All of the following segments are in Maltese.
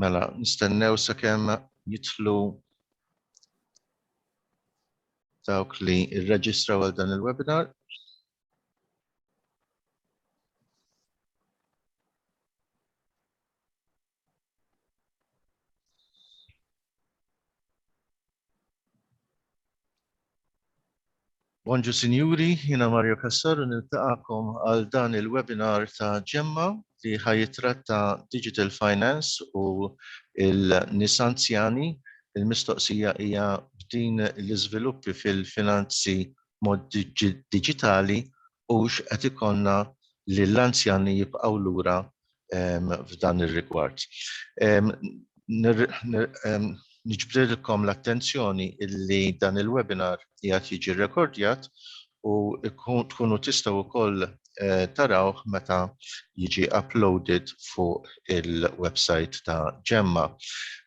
Mela, nistennew sakemm jitlu dawk li rreġistra għal dan il-webinar. Bonġu Sinjuri, jina Mario Cassar u niltaqakom għal dan il-webinar ta' ġemma li ħajitratta Digital Finance u il-nis anzjani. Il-mistoqsija hija b'din l-iżviluppi fil-finanzi mod digitali u x'qed ikonna li l-anzjani jibqgħu lura f'dan ir-rigward. Niġbrilkom l-attenzjoni illi dan il-webinar qiegħed jiġi rrekordjat u tkunu tistgħu wkoll tarawh meta jiġi uploaded fuq il-website ta' Gemma.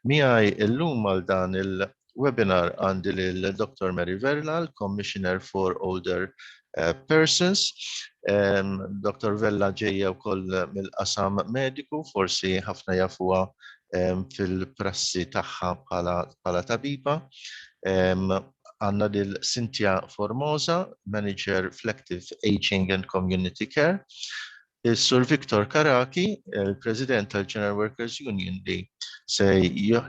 Miegħi llum għal dan webinar għandi lil Dr. Mary Vella, l-Commissioner for Older eh, Persons. Dr. Vella ġejja wkoll mill-qasam mediku, forsi ħafna jafuha fil-prassi tagħha bħala tabiba. Għanna lil Cynthia Formosa, Manager Flective Aging and Community Care. Is-Sur Victor Caraki, il-President tal-General Workers Union li se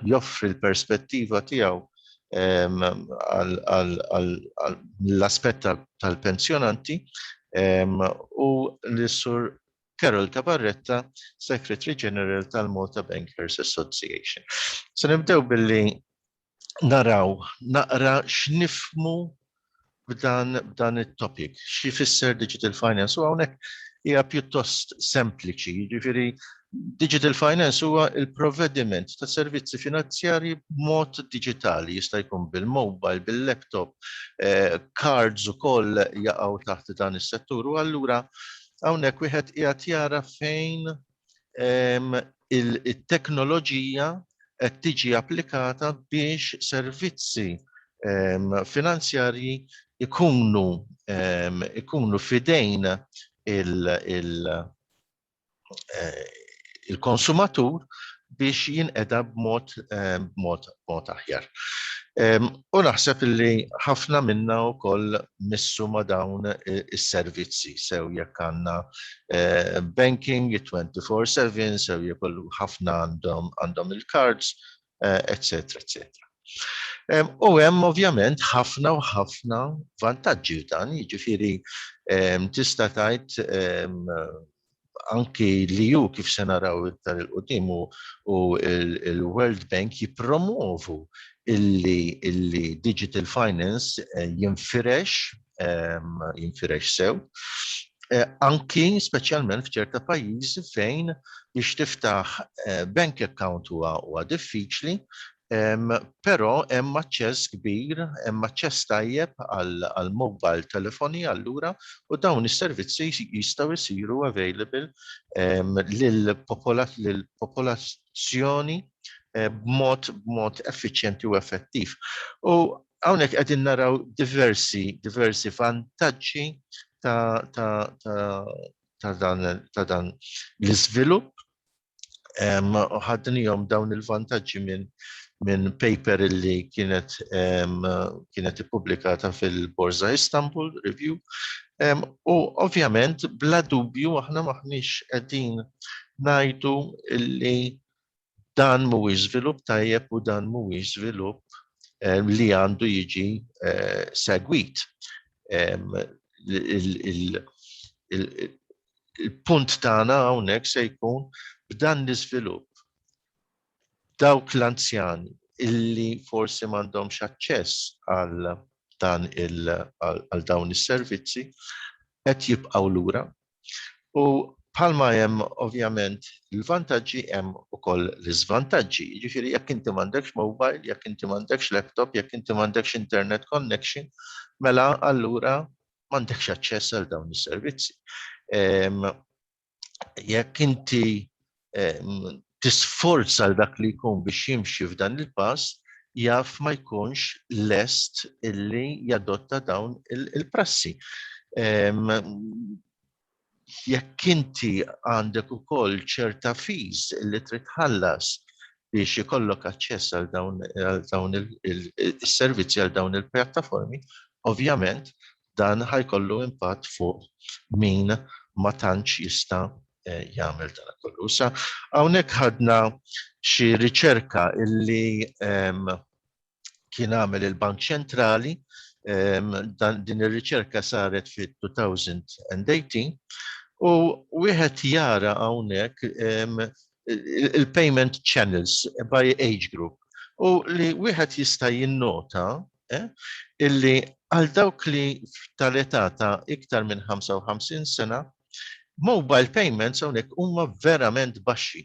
joffri l-perspettiva tiegħu għall-aspett tal-pensjonanti u l-Sur Carol Tabarretta, Secretary General tal-Malta Bankers Association. Se nibdew billi naraw naqra x'nifmu b'dan b'dan it-topic, xi fisser digital finance u hawnhekk hija pjuttost sempliċi, jiġifieri digital finance huwa il-provvediment ta' servizzi finanzjarji b'mod diġitali, jista' jkun bil-mobile, bil-laptop, eh, cards ukoll jaqgħu taħt dan is-settur u allura hawnhekk wieħed qiegħed jara fejn it-teknoloġija qed tiġi applikata biex servizzi finanzjarji ikunu ikunu fidejn il-konsumatur biex jinqeda b'mod b'mod aħjar. U naħseb illi ħafna minna wkoll missu ma' dawn is-servizzi, sew jekk għandna banking 24/7, sew jekk kollu ħafna għandhom il-cards, eċċetera, eċċetera. U hemm ovvjament ħafna u ħafna vantaġġi f'dan, jiġifieri tista' tgħid anki li ju kif se naraw iktar il-qudiem u il-World Bank jipromovu illi digital finance eh, jinfirex ehm, jinfirex sew eh, anki speċjalment f'ċerta pajjiżi fejn biex tiftaħ eh, bank account huwa diffiċli Però hemm aċċess kbir, hemm aċċess tajjeb għall-mobile telefoni allura u dawn is-servizzi jistgħu jsiru available lill-popolazzjoni b'mod effiċjenti u effettiv. U hawnhekk qegħdin naraw diversi vantaġġi ta' dan l-iżvilupp ħadnijom dawn il-vantaġġi minn min paper illi kienet kienet ippubblikata fil-Borza Istanbul Review. U ovvjament bla dubju aħna maħniex qegħdin ngħidu illi dan mhuwiex żvilupp tajjeb u dan mhuwiex żvilupp li għandu jiġi segwit il-punt tagħna hawnhekk se jkun b'dan l-iżvilupp. Dawk l-anzjani illi forsi m'għandhomx aċċess għal dan għal dawn is-servizzi qed jibqgħu lura. U bħalma hemm ovvjament il-vantaġġi hemm ukoll l-iżvantaġġi. Jiġifieri jekk inti m'għandekx mobile, jekk inti m'għandekx laptop, jekk inti m'għandekx internet connection, mela allura m'għandekx aċċess għal dawn is-servizzi. Ehm, jekk inti ehm, tisforza għal dak li jkun biex jimxi f'dan il-pass, jaf ma jkunx lest illi jadotta dawn il-prassi. Ehm, jekk inti għandek ukoll ċerta fees li trid tħallas biex ikollok aċċess għal dawn għal dawn il- il- is-servizzi għal dawn il-pjattaformi, ovvjament dan ħajkollu impatt fuq min ma tantx jista' eh, jagħmel dan kollu. Sa hawnhekk ħadna xi riċerka illi ehm, kien għamel il-Bank Ċentrali din ir-riċerka saret fit-2018 u wieħed jara hawnhekk il-payment channels by age group u li wieħed jista' jinnota eh, illi għal dawk li tal-età ta' iktar minn 55 sena mobile payments hawnhekk huma verament baxxi.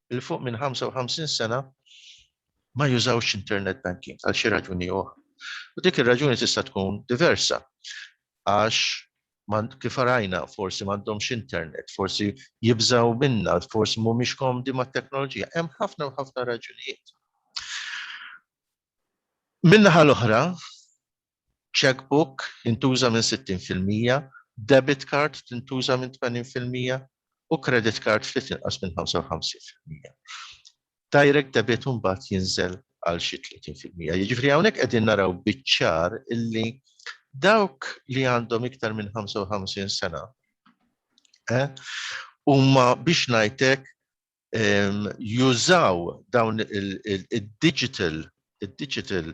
'l fuq minn 55 sena ma jużawx internet banking għal xi raġuni oħra. U dik ir-raġuni tista' tkun diversa għax kif rajna forsi m'għandhomx internet, forsi jibżgħu minnha, forsi mhumiex komdi mat-teknoloġija. Hemm ħafna u ħafna raġunijiet. Min-naħa l-oħra, Cheque book jintuża minn 60 fil-mija, debit card tintuża minn 80 fil-mija u credit card ftit inqas minn 55 fil-mija. Direct debit imbagħad jinżel għal xi 30 fil-mija. Jiġifieri hawnhekk qegħdin naraw biċ-ċar illi dawk li għandhom iktar minn 55 sena huma biex ngħidlek jużaw dawn il-digital il-digital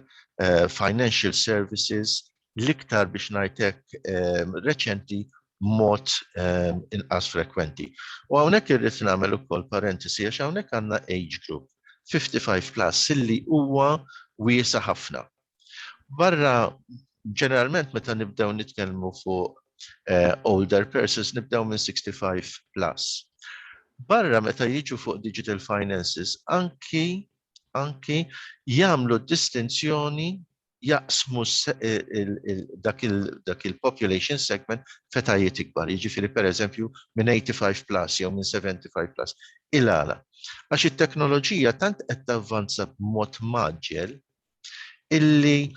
financial services l-iktar biex ngħidlek reċenti mod inqas frekwenti. U hawnhekk irrid nagħmel ukoll parentesi għax hawnhekk għandna age group 55 plus illi huwa wiesa' ħafna. Barra ġeneralment meta nibdew nitkellmu fuq uh, older persons nibdew minn 65 plus. Barra meta jiġu fuq digital finances anki anki jagħmlu distinzjoni jaqsmu eh, dak il-population segment fetajiet ikbar, jiġifieri pereżempju minn 85 plus jew minn 75 plus. Il-għala. Għax it-teknoloġija tant qed tavvanza b'mod maġġel illi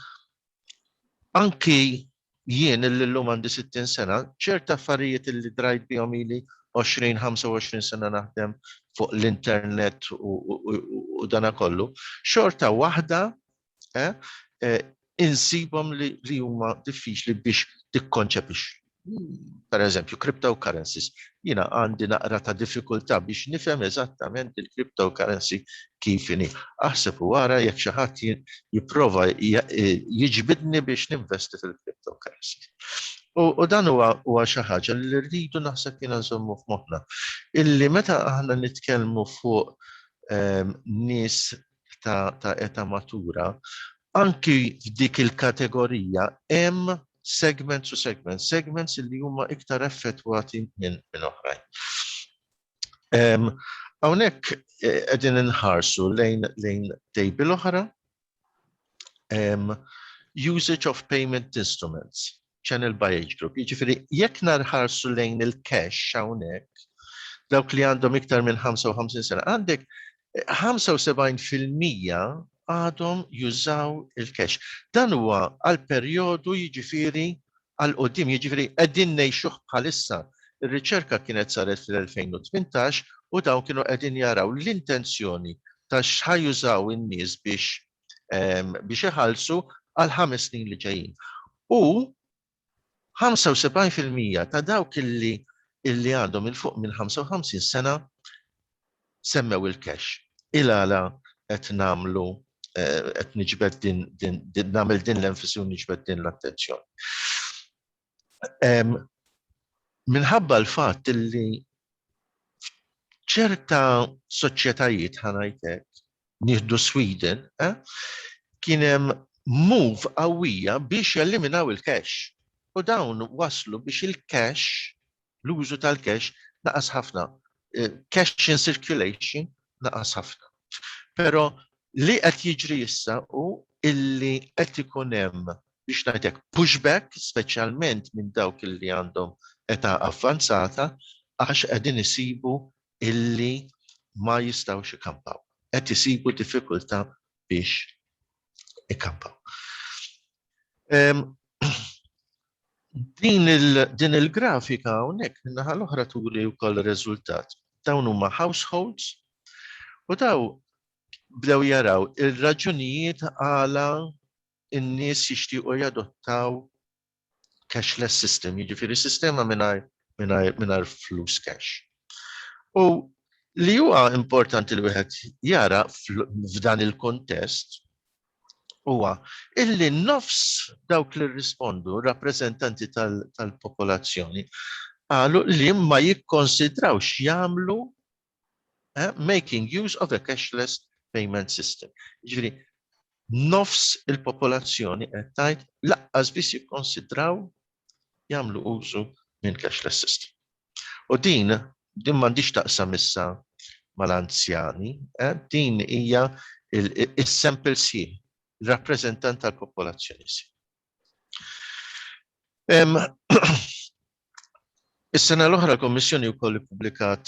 anki jien illi l-lum għandi 60 sena, ċert affarijiet illi drajt bihom ili 20-25 sena naħdem fuq l-internet u dana kollu, xorta waħda eh, eh, insibom li huma diffiċli biex tikkonċepix. per eżempju, cryptocurrencies, jina għandi naqra ta' diffikultà biex nifhem eżattament il-cryptocurrency kif inhi. Aħseb u ara jekk xi ħadd jipprova jiġbidni biex ninvesti fil-cryptocurrencies. U dan huwa xi ħaġa li rridu naħseb jiena nżommu f'moħħna. Illi meta aħna nitkellmu fuq ehm, nies ta', ta eta matura, anki f'dik il-kategorija hemm segments u segments, segments li huma iktar effettwati minn min oħrajn. Hawnhekk eh, qegħdin inħarsu lejn lejn tejbil oħra usage of payment instruments. channel by age group. Jiġifieri jekk narħarsu lejn il-cash hawnhekk, dawk li għandhom iktar minn 55 sena, għandek 75% għadhom jużaw il-cash. Dan huwa għal perjodu jiġifieri għal qoddim, jiġifieri qegħdin ngħixuh bħalissa. Ir-riċerka kienet saret fil-2018 u dawn kienu qegħdin jaraw l-intenzjoni ta' x'ħajużaw in-nies biex biex iħallsu għal ħames snin li ġejjin. U 75% ta' dawk illi illi għandhom il-fuq minn 55 sena semmew il-cash. Il-għala qed namlu eh, qed niġbed din din namel din l-enfasi u niġbed din l-attenzjoni. Minħabba l-fatt li ċerta soċjetajiet ħanajtek, nieħdu Sweden, eh, kien hemm move qawwija biex jeliminaw il-cash. U dawn waslu biex il-cash L-użu tal-cash naqas ħafna. Cash in circulation naqas ħafna. Però li qed jiġri issa hu illi qed ikun hemm biex ngħid hekk pushback speċjalment minn dawk illi għandhom età avvanzata għax qegħdin isibu illi ma jistgħux ikampaw. Qed isibu diffikultà biex ikampaw. Din il-grafika hawnhekk min-naħa l-oħra turi wkoll ir-riżultat. Dawn huma households u daw bdew jaraw ir-raġunijiet għala n-nies jixtiequ jadottaw cashless system, jiġifieri sistema mingħajr flus cash. U li huwa importanti li wieħed jara f'dan il-kuntest huwa illi nofs dawk li rrispondu rappreżentanti tal-popolazzjoni qalu li ma jikkonsidrawx jagħmlu eh, making use of a cashless payment system. Ġifieri nofs il-popolazzjoni qed tgħid laqqas biss jikkonsidraw jagħmlu użu minn cashless system. U din, din m'għandix taqsam issa mal-anzjani, eh, din hija is-sample sieħ, rappreżentant tal-popolazzjoni sieħ. Is-sena l-oħra l-Kommissjoni wkoll ippubblikat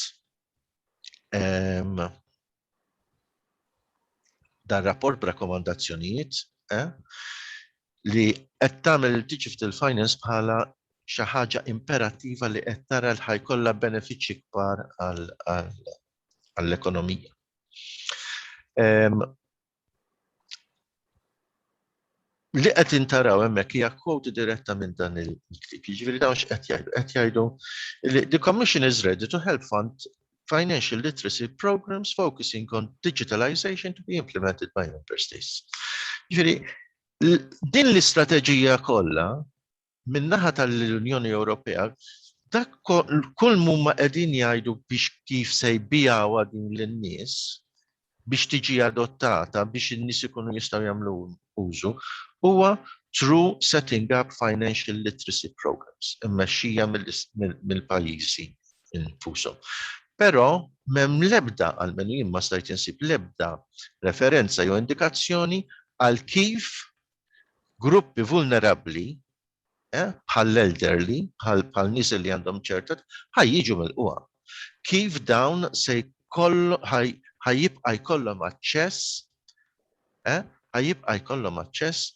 dan rapport b'rakkomandazzjonijiet eh, li qed tagħmel il-digital finance bħala xi ħaġa imperattiva li qed tara l ħajkollha benefiċċji kbar għall-ekonomija. li qed intaraw hemmhekk hija quote diretta minn dan il-ktieb. Jiġifieri dawn x'qed jgħidu? Qed jgħidu li the commission is ready to help fund financial literacy programs focusing on digitalization to be implemented by member states. Jiġifieri din l-istrateġija kollha min-naħa tal-Unjoni Ewropea dak kull mumma qegħdin jgħidu biex kif se jbigħuha din lin-nies biex tiġi adottata biex in-nies ikunu jistgħu jagħmlu użu huwa through setting up financial literacy programs immexxija mill-pajjiżi infushom. Però m'hemm l-ebda għalmenu jien ma stajt insib l-ebda referenza jew indikazzjoni għal kif gruppi vulnerabbli eh, bħall-elderly, bħal nies li għandhom ċertat, ħaj jiġu mill-qwa. Kif dawn se ħajibqa jkollhom aċċess, eh, ħajibqa jkollhom aċċess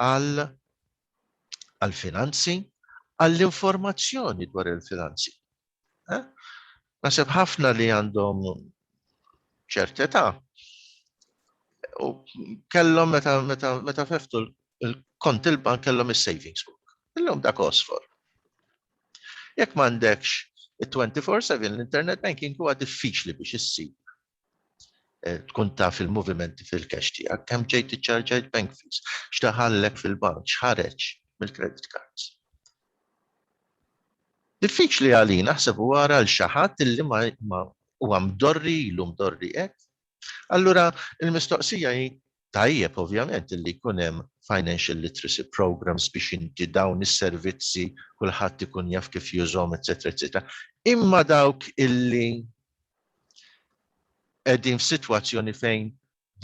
għal għal-finanzi, għall-informazzjoni dwar il-finanzi. Eh? Nasib ħafna li għandhom ċertità u kellhom meta meta meta feftu l-kont il-bank kellhom is-savings book. Illum dak osfor. Jekk m'għandekx it-24/7 l-internet banking huwa diffiċli biex issib tkun taf il-movimenti fil-cash tiegħek, kemm ġejt iċċarġajt bank fees, x'daħallek fil-bank, x'ħareġ mill-credit cards. Diffiċli għalina, aħseb u ara għal xi ħadd illi ma huwa mdorri, ilu mdorri hekk. Allura l-mistoqsija hi tajjeb ovvjament illi jkun hemm financial literacy programmes biex inti dawn is-servizzi kulħadd ikun jaf kif jużhom etc. etc. Imma dawk illi qegħdin f'sitwazzjoni fejn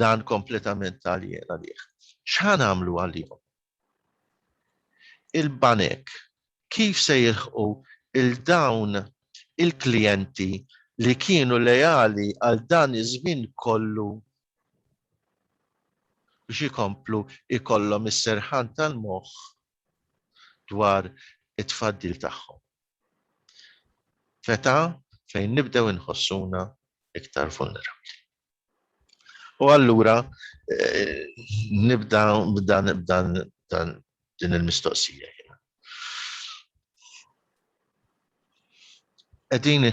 dan kompletament għalien għalih. X'ħa nagħmlu għalihom? il-banek kif se jilħqu 'l dawn il-klijenti li kienu leali għal dan iż-żmien kollu biex ikomplu jkollhom is-serħan tal-moħħ dwar it-tfaddil tagħhom f'età fejn nibdew inħossuna iktar vulnerabbli. U allura eh, nibda b'dan b'dan dan din il-mistoqsija. Qegħdin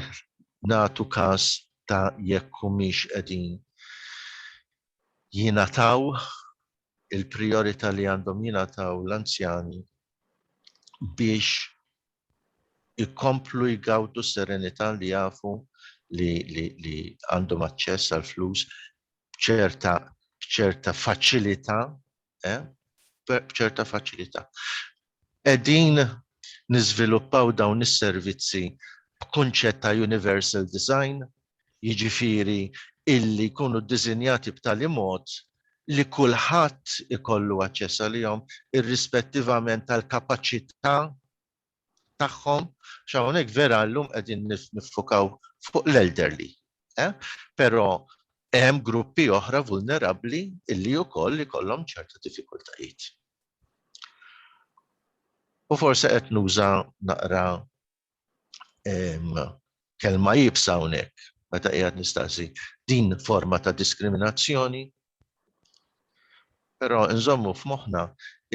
nagħtu każ ta' jekk humiex qegħdin jingħataw il-priorità li għandhom jingħataw l-anzjani biex ikomplu jgawdu s-serenità li jafu li għandhom aċċess għall-flus b'ċerta faċilità, b'ċerta faċilità. Qegħdin niżviluppaw dawn is-servizzi b'kunċett ta' universal design, jiġifieri illi jkunu ddisinjati b'tali mod li kulħadd ikollu aċċess għalihom irrispettivament tal-kapaċità tagħhom, għax hawnhekk vera llum qegħdin niffukaw fuq l-elderly, però hemm gruppi oħra vulnerabbli illi wkoll ikollhom ċerta diffikultajiet. U forsi qed nuża naqra kelma jibsa hawnhekk meta qiegħed nistaqsi din forma ta' diskriminazzjoni. Però nżommu f'moħħna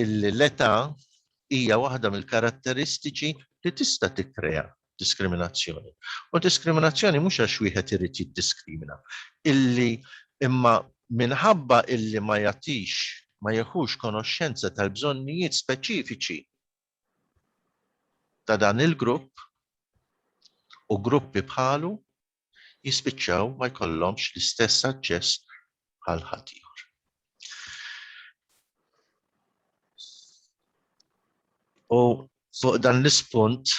illi l-età hija waħda mill-karatteristiċi li tista' tikkrea diskriminazzjoni. U diskriminazzjoni mhux għax wieħed irid jiddiskrimina. Illi imma minħabba illi ma jagħtix ma jeħux konoxxenza tal-bżonnijiet speċifiċi ta' dan il-grupp u gruppi bħalu jispiċċaw ma jkollhomx l-istess aċċess bħal ħaddieħor. U fuq dan l-ispunt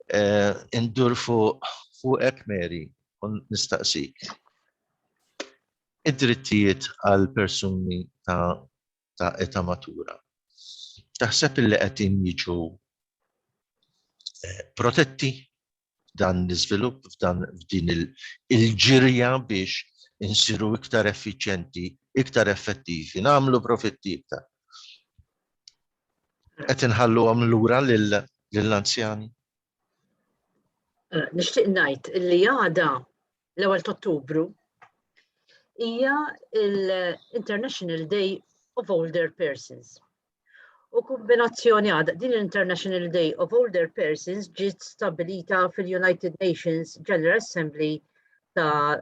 eh, indur fuq fuqek Mary u nistaqsik. Id-drittijiet għal persuni ta' ta' età matura. Taħseb illi qegħdin jiġu eh, protetti dan l-iżvilupp f'dan f'din il-ġirja biex insiru iktar effiċjenti, iktar effettivi, nagħmlu profitti iktar. Qed inħalluhom lura lill-anzjani. Eh, nixtieq ngħid li għada l-ewwel Ottubru hija l-International Day of Older Persons. U kombinazzjoni għada din l-International Day of Older Persons ġiet stabilita fil-United Nations General Assembly ta'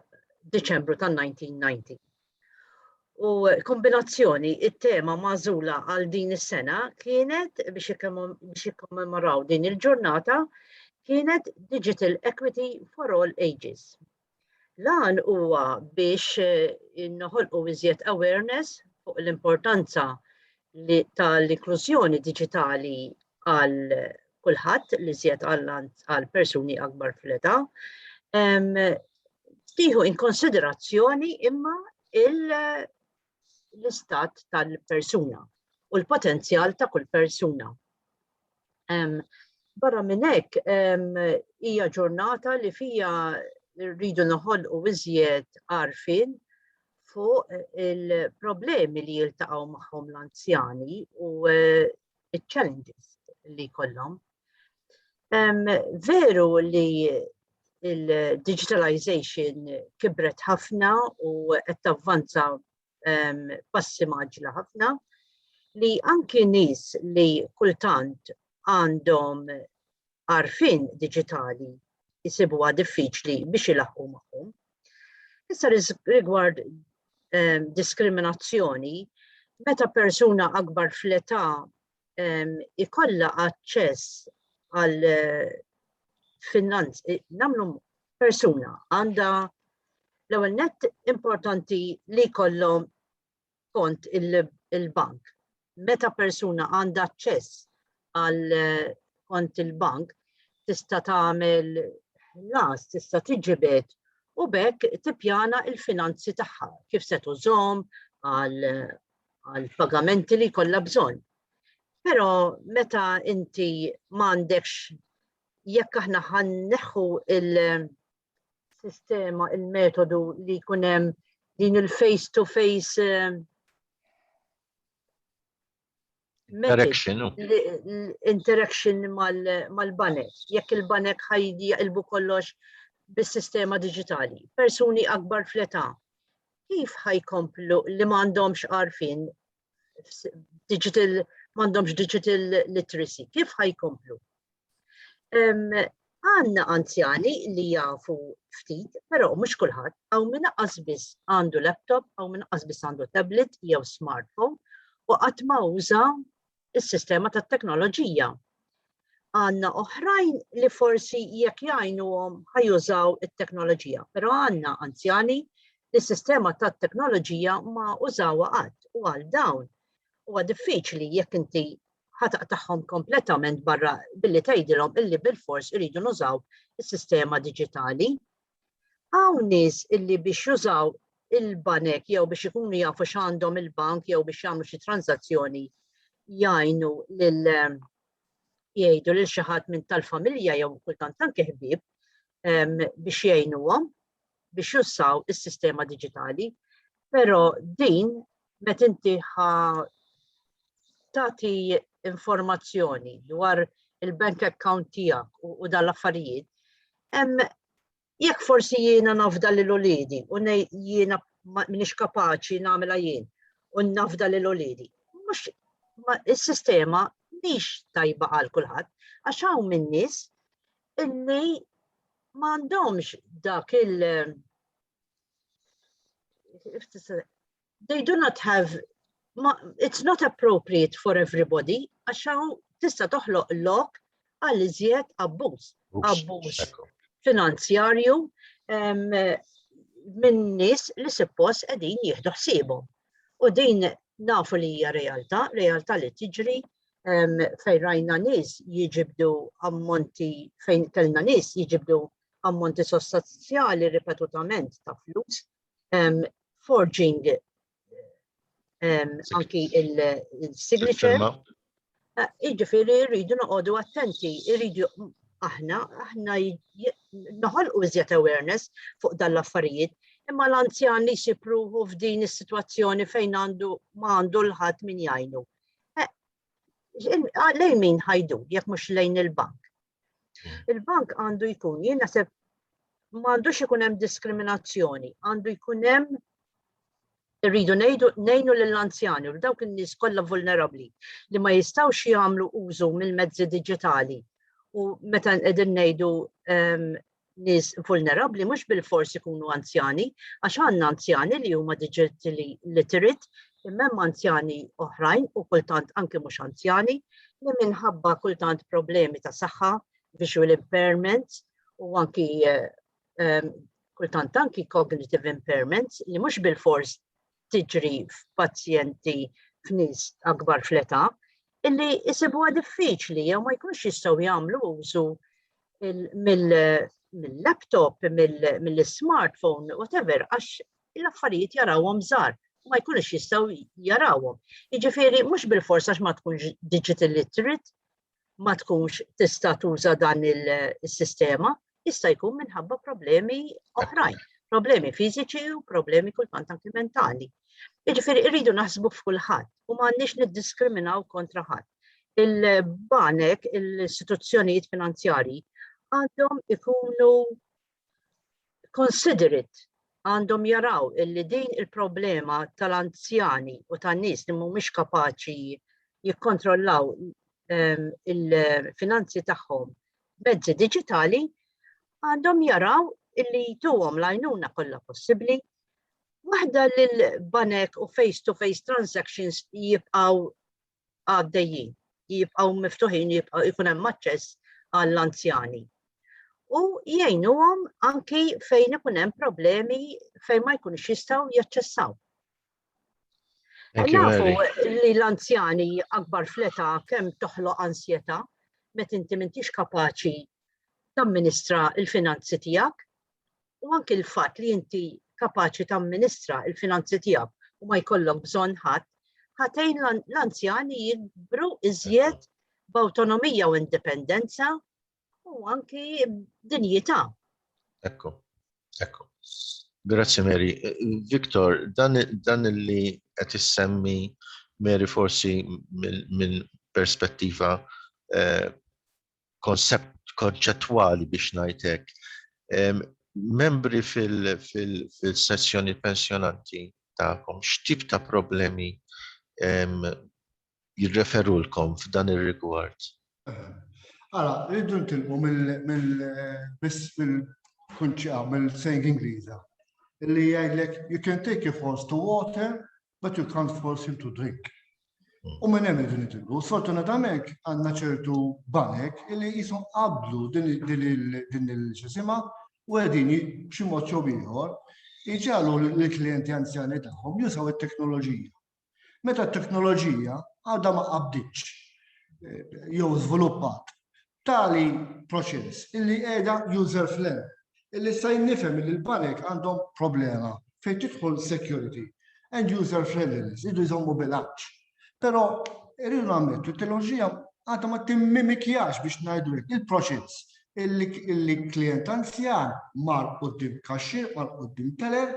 Deċembru ta' 1990. U kombinazzjoni, it-tema mażula għal din is-sena kienet biex jikkommemoraw din il-ġurnata kienet Digital Equity for All Ages. Lan huwa biex eh, inħolqu iżjed awareness fuq l-importanza tal-inklużjoni digitali għal kulħadd li żjed għal persuni akbar fl-età, tieħu in konsiderazzjoni imma l-istat tal-persuna u l-potenzjal ta' kull persuna. Barra minn hekk hija ġurnata li fija rridu noħolqu iżjed għarfien fuq il-problemi li jiltaqgħu magħhom l-anzjani u eh, il-challenges li kollom. Veru li il-digitalization kibret ħafna u qed tavvanza passi maġla ħafna li anki nies li kultant għandhom għarfien diġitali jsibuha diffiċli biex ilaħqu magħhom. Issa rigward ehm, diskriminazzjoni, meta persuna akbar fl-età ehm, ikolla aċċess għal eh, finanz, eh, namlu persuna għanda l-ewwel net importanti li kollom skont il-bank. Meta persuna għandha aċċess għal kont il-bank tista' tagħmel las, tista' tiġibed u bekk tippjana il-finanzi tagħha kif se tużhom għal pagamenti li kollha bżonn. Però meta inti m'għandekx jekk aħna ħanneħħu il- il-sistema, il-metodu li jkun hemm din il-face to face eh, Interaction. Interaction mal-banek. Jekk il-banek ħajdi jaqilbu kollox bis-sistema digitali. Persuni akbar fleta. Kif ħajkomplu li ma għandhomx għarfin digital m'għandhomx digital literacy, kif ħajkomplu? Għanna anzjani li jafu ftit, pero mux kullħat, għaw minna qasbis għandu laptop, għaw minna qasbis għandu tablet jew smartphone, u għatma uża il-sistema ta' teknoloġija. Għandna oħrajn li forsi jekk jgħinuhom ħajużaw it-teknoloġija, però għandna anzjani li s-sistema tat-teknoloġija ma użawha qatt u għal dawn huwa diffiċli jekk inti ħataq tagħhom kompletament barra billi tgħidilhom illi bil-fors iridu nużaw is-sistema diġitali. Hawn nies illi biex jużaw il-banek jew biex ikunu jafu x'għandhom il-bank jew biex jagħmlu xi transazzjoni jgħinu lil jgħidu lil xi ħadd minn tal-familja jew kultant anke ħbieb biex jgħinuhom biex jussaw is-sistema diġitali. Però din met inti ħa tagħti informazzjoni dwar il-bank account tiegħek u dal-affarijiet, hemm Jekk forsi jiena nafda lil uliedi u ngħid jiena m'iniex kapaċi nagħmilha jien u nafda lil uliedi, mhux is-sistema mhix tajba għal kulħadd għax hawn min nies illi m'għandhomx dak il- they do not have ma, it's not appropriate for everybody għax hawn tista' toħloq lok għal iżjed abbuż. Abbuż finanzjarju minn nies li suppost qegħdin jieħdu ħsiebhom. U din nafu li hija realtà, realtà li tiġri fejn rajna nies jiġibdu ammonti fejn kellna nies jiġibdu ammonti sostanzjali ripetutament ta' flus um, forging um, anki il-signature. Uh, iġifiri rridu noqogħdu attenti, rridu aħna, aħna noħolqu iżjed awareness fuq dan l-affarijiet, imma l-anzjan li xipruħu f'din is-sitwazzjoni fejn għandu ma għandu l-ħadd min jgħinu. Eh, lejn min ħajdu jekk mhux lejn il-bank. Il-bank għandu jkun, jien naħseb ma għandux ikun hemm diskriminazzjoni, għandu jkun hemm rridu nejdu nejnu lill-anzjani u dawk in-nies kollha vulnerabbli li ma jistgħux jagħmlu użu mill-mezzi diġitali u meta qegħdin ngħidu ehm, nies vulnerabbli mhux bilfors ikunu anzjani, għax għandna anzjani li huma digitally literate, imma hemm anzjani oħrajn u kultant anke mhux anzjani li minħabba kultant problemi ta' saħħa, visual impairments u anki eh, ehm, kultant anki cognitive impairments li mhux bilfors tiġri f'pazjenti f'nies akbar fl-età illi jsibuha diffiċli jew ma jkunx jistgħu jagħmlu użu mill-laptop, mill-smartphone, whatever, għax l-affarijiet jarawhom żgħar ma jkunux jistgħu jarawhom. Jiġifieri mhux bil-forsa għax ma tkunx digital literate, ma tkunx tista' tuża dan il-sistema, jista' jkun minħabba problemi oħrajn, problemi fiżiċi u problemi kultant anki mentali. Jiġifieri irridu naħsbu f'kulħadd u m'għandniex niddiskriminaw kontra ħadd. Il-banek, l-istituzzjonijiet finanzjarji għandhom ikunu Considerate għandhom jaraw illi din il-problema tal-anzjani u tan-nies li mhumiex kapaċi jikkontrollaw ehm, il-finanzi tagħhom mezzi diġitali għandhom jaraw illi jtuhom l-għajnuna kollha possibbli waħda lil banek u face-to-face transactions jibqaw għaddejjin, jibqgħu miftuħin, jibqgħu jkun hemm aċċess għall-anzjani. U jgħinuhom anki fejn ikun hemm problemi fejn ma jkunx jistgħu jaċċessaw. Nafu li l-anzjani akbar fleta kemm toħloq ansjeta, met inti mintix kapaċi tamministra l-finanzi tiegħek u anki l-fatt li inti kapaċi tamministra l-finanzi tiegħek u ma jkollok bżonn ħadd, ħatejn l-anzjani jibru iżjed b'awtonomija u indipendenza u anki dinjità. Ekku, ekku. Grazzi Mary. Viktor, dan, dan li qed issemmi Mary forsi minn perspettiva eh, konsept konċettwali biex ngħid hekk. Membri fil-sezzjoni pensjonanti tagħkom x'tip ta' problemi jirreferulkom f'dan ir-rigward? Ara, rridu ntilqu mill-kunċa, mill-sejn Ingliża, li jgħidlek you can take your horse to water, but you can't force him to drink. U minn hemm din itillu, sfortunatament għandna ċertu banek li jisu qablu din il-ġisima u għedin b'xi mod jew ieħor iġalu l-klijenti anzjani tagħhom jusaw it-teknoloġija. Meta t-teknoloġija għadha ma qabditx eh, jew żviluppat Tali proċess illi qiegħda user fl-hemm, illi issa jien nifhem illi l-banek għandhom problema fejn tidħol security and user friendliness, jridu jżommu bilanċ. Però irridu nammettu t-teknoloġija għadha ma timmimikjax biex ngħidu il-proċess illi klient anzjan mar qudiem kaxxir, mar qudiem teller,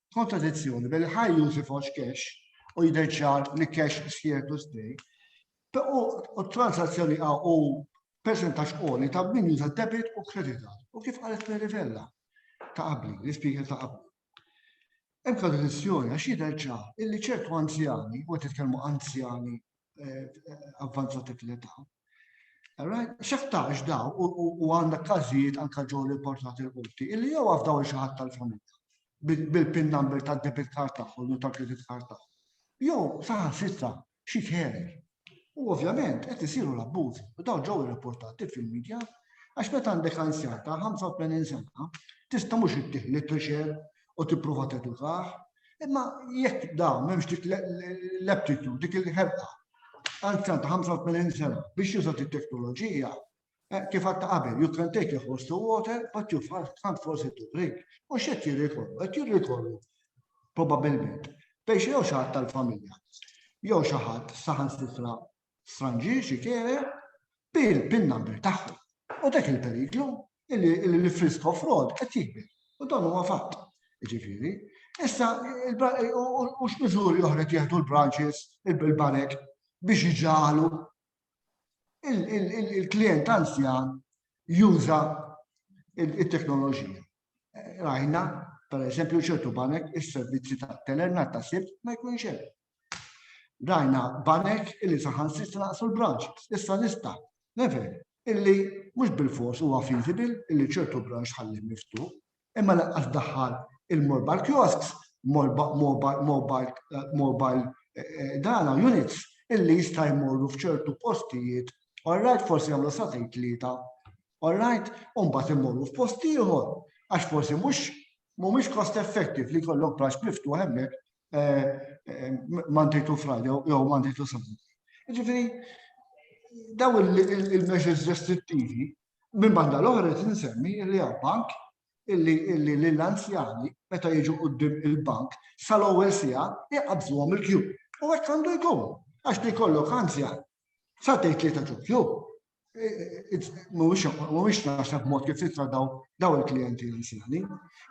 kontradizzjoni bejn il-high use ifoxx cash u jidher ċar li cash is here to stay u transazzjoni u percentax qoli ta' min juża debit u credit card. U kif qalet Mary Vella ta' qabli, l-ispieker ta' qabli. Hemm kontradizzjoni għax jidher ċar illi ċertu anzjani, u qed titkellmu anzjani eh, avvanzati fl-età. Xaħtax daw u għandek każijiet anka ġew riportati l-qorti illi jew għafdaw xi ħadd tal-familja bil-pin number ta' debit card tagħhom u ta' credit card tagħhom. Jew saħan sitta xi tħerer. U ovvjament qed isiru l-abbużi u daw ġew irrapportati fil-medja għax meta għandek anzjan ta' 85 sena tista' mhux ittieħ literature u tipprova tedukah, imma jekk dawn m'hemmx dik l-aptitude, dik il-ħerqa, anzjan ta' 85 sena biex juża t-teknoloġija, eh, kif għatta qabel, you can take a horse to water, but you can't force it to drink. U xed jirrikorru, għet jirrikorru, probabilment, biex jew xaħat tal-familja, jew xaħat saħan sitra stranġier xi kere bi l-pin number tagħhom. U dak il-periklu li l-frisk of fraud qed jikber. U dan huwa fatt. Ġifieri, issa u x'miżuri oħra jieħdu l-branches, il-banek biex iġalu il-klient anzjan juża il-teknoloġija. Rajna, per eżempju, ċertu banek is-servizzi ta' telerna ta' sibt ma jkunx hemm. Rajna banek illi saħansitra naqsu l-branches. Issa nista' never illi mhux bil-fors huwa feasible illi ċertu branch tħallih miftuħ, imma lanqas daħħal il-mobile kiosks, mobile eh, eh, dana units illi jista' jmorru f'ċertu postijiet, all right, forsi jagħmlu sa tgħid tlieta, all right, u mbagħad imorru f'post ieħor għax forsi mhux mhumiex cost effective li jkollok branch miftuħ hemmhekk Monday to Friday jew Monday to Sunday. Ġifieri daw il-measures restrittivi minn banda l-oħra qed insemmi li għal bank illi l-anzjani meta jiġu qudiem il-bank sal-ewwel sija jqabżuhom il-kju. U hekk għandu jkun għax li kollok anzjan sa tgħid li ta' kju. mhuwiex naħseb mod kif titra daw il-klijenti anzjani.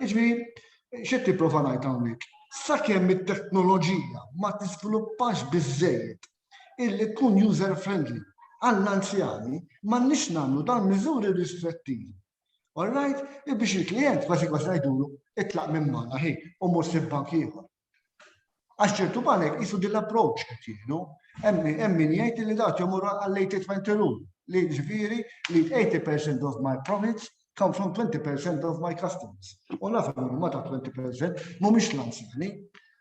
Iġbiri, xed tipprova ngħid hawnhekk. Sakemm it-teknoloġija ma tiżviluppax biżejjed illi tkun user friendly għall-anzjani ma nix nagħmlu dan miżuri ristrettivi. All right, biex il-klient kważi kważi ngħidulu itlaq minn magħna ħin u mhux sib bank ieħor. Għax ċertu banek jisu din l-approċ qed jieħdu, hemm min jgħid li dat jomur għall-80-20 rule, li ġifieri li 80% of my profits come from 20% of my customers. U naf ma ta' 20% mhumiex l-anzjani.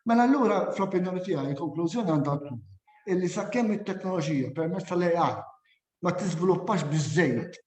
Mela allura fl-opinjoni tiegħi il-konklużjoni għandha tkun illi sakemm it-teknoloġija permezz tal-AI ma tiżviluppax biżejjed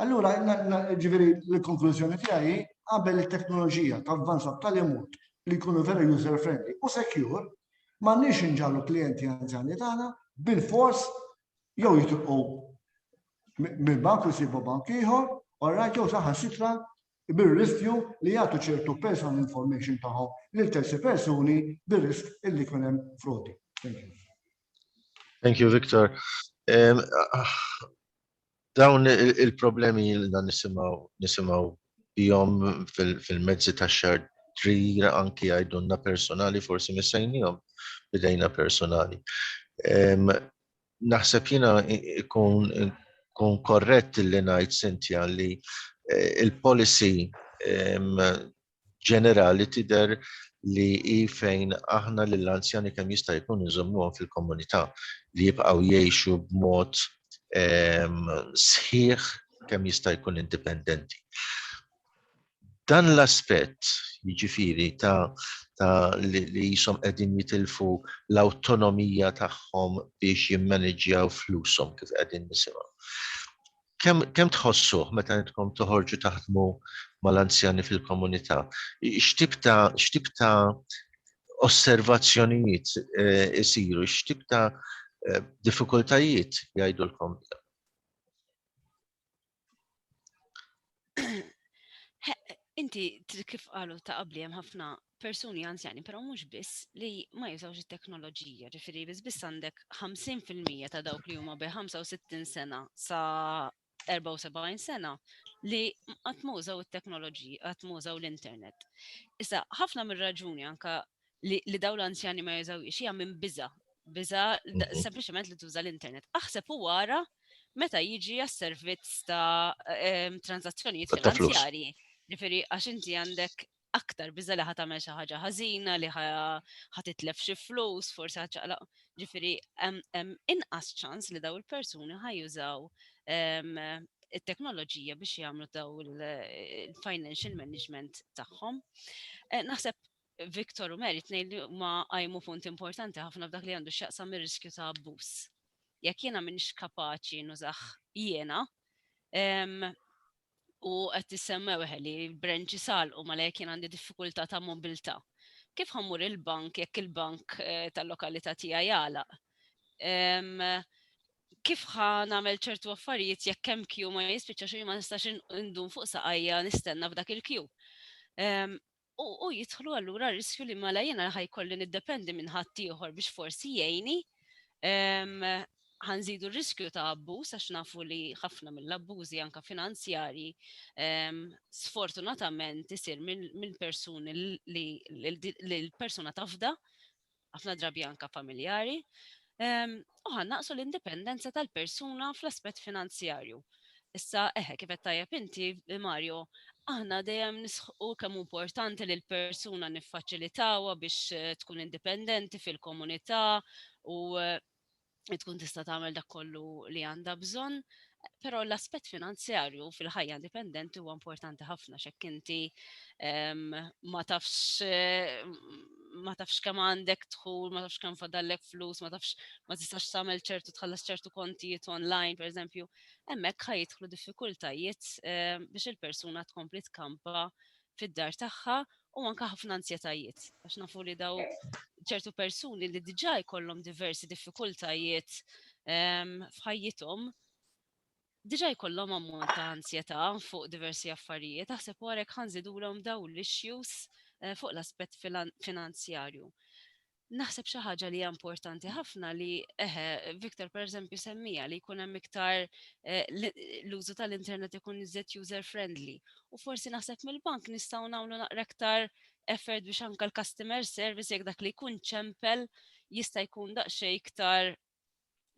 Allura, ġifieri l-konklużjoni tiegħi qabel it-teknoloġija tavvanza b'tali mod li jkunu vera user friendly u secure, ma nix inġallu klienti anzjani tagħna bil-fors jew jitilqu mill-bank u jsibu bank ieħor, u rajt jew saħan sitra bir-riskju li jagħtu ċertu personal information tagħhom lil terzi persuni bir-risk illi jkun hemm frodi. Thank you. Thank you, Victor. Dawn il-problemi ilna nisimgħu nisimgħu bihom fil-mezzi tax-xahar trir anki jgħidulna personali forsi missejnihom bidejna personali. Naħseb jiena ikun kun korrett li ngħid Cynthia li il-policy ġenerali tidher li hi fejn aħna lill-anzjani kemm jista' jkun inżommuhom fil-komunità, li jibqgħu jgħixu b'mod sħiħ kemm jista' jkun indipendenti. Dan l-aspett, jiġifieri ta' li qishom qegħdin jitilfu l-awtonomija tagħhom biex jimmaniġġjaw flushom kif qegħdin nisimgħu. kemm kem tħossuh meta intkom toħorġu taħdmu mal-anzjani fil-komunità? X'tip ta' x'tip ta' osservazzjonijiet eh, isiru, x'tip ta' eh, diffikultajiet jgħidulkom? Inti kif qalu ta' qabli hemm ħafna persuni anzjani, però mhux biss li ma jużawx it-teknoloġija, ġifieri biss biss għandek 50% ta' dawk li huma bi 65 sena sa 74 sena li qatt ma użaw it-teknoloġija, qatt ma użaw l-internet. Issa ħafna mir-raġuni anka li daw l-anzjani ma jużawiex hija minn biża, biża mhm. sempliċement li tuża l-internet. Aħseb u wara meta jiġi għas-servizz ta' ehm, transazzjonijiet finanzjarji. Ġifieri għax inti għandek aktar biża li ħatamel xi ħaġa ħażina li ħatitlef xi flus, forsi ħaċaqlaq. Ġifieri hemm inqas ċans li daw il-persuni ħajużaw ehm, it-teknoloġija biex jagħmlu daw il-financial management tagħhom. Eh, naħseb Victor u Mary tnejn li huma qajmu punt importanti ħafna f'dak li għandu x'jaqsam ir-riskju ta' abbuż. Jekk jiena m'iniex kapaċi nużah jiena, u qed tissemmew eħe li branċi salqu ma lek jien għandi diffikultà ta' mobilità. Kif ħammur il-bank jekk il-bank eh, tal-lokalità tiegħi jagħlaq? Kif ħa nagħmel ċertu affarijiet jekk hemm kju ma jispiċċax u ma nistax indun fuq saqajja nistenna f'dak il-kju? u jidħlu allura riskju li mela jiena ħajkolli niddependi minn ħaddieħor biex forsi jgħini ħanżidu r-riskju ta' abbuż għax nafu li ħafna mill-abbużi anka finanzjarji sfortunatament isir minn persuni li l-persuna tafda ħafna drabi anka familjari, ehm, u ħannaqsu l-indipendenza tal-persuna fl-aspett finanzjarju. Issa, eħe, kif qed tajjeb inti, Mario, aħna dejjem nisħu kemm importanti li l-persuna niffaċilitawha biex eh, tkun indipendenti fil-komunità u eh, tkun tista' tagħmel dak kollu li għandha bżonn, però l-aspett finanzjarju fil-ħajja indipendenti huwa importanti ħafna x'hekk inti ehm, ma tafx ma tafx kemm għandek dħul, ma tafx kemm fadallek flus, ma tafx ma tistax tagħmel ċertu tħallas ċertu kontijiet online, pereżempju, hemmhekk ħajidħlu diffikultajiet ehm, biex il-persuna tkompli tkampa fid-dar tagħha u anke ħafna anzjetajiet. Għax nafu li daw ċertu persuni li diġà jkollhom diversi diffikultajiet ehm, f'ħajjithom, diġà jkollhom ammont ta' anzjetà fuq diversi affarijiet, aħseb warek ħanżidulhom daw l-issues eh, fuq l-aspett finanzjarju. naħseb xi ħaġa li hija importanti ħafna li eħe, Victor pereżempju semmija li jkun hemm iktar eh, l-użu tal-internet ikun iżjed user friendly. U forsi naħseb mill-bank nistgħu nagħmlu naqra iktar effort biex anke l-customer service jekk dak li jkun ċempel jista' jkun daqsxejn iktar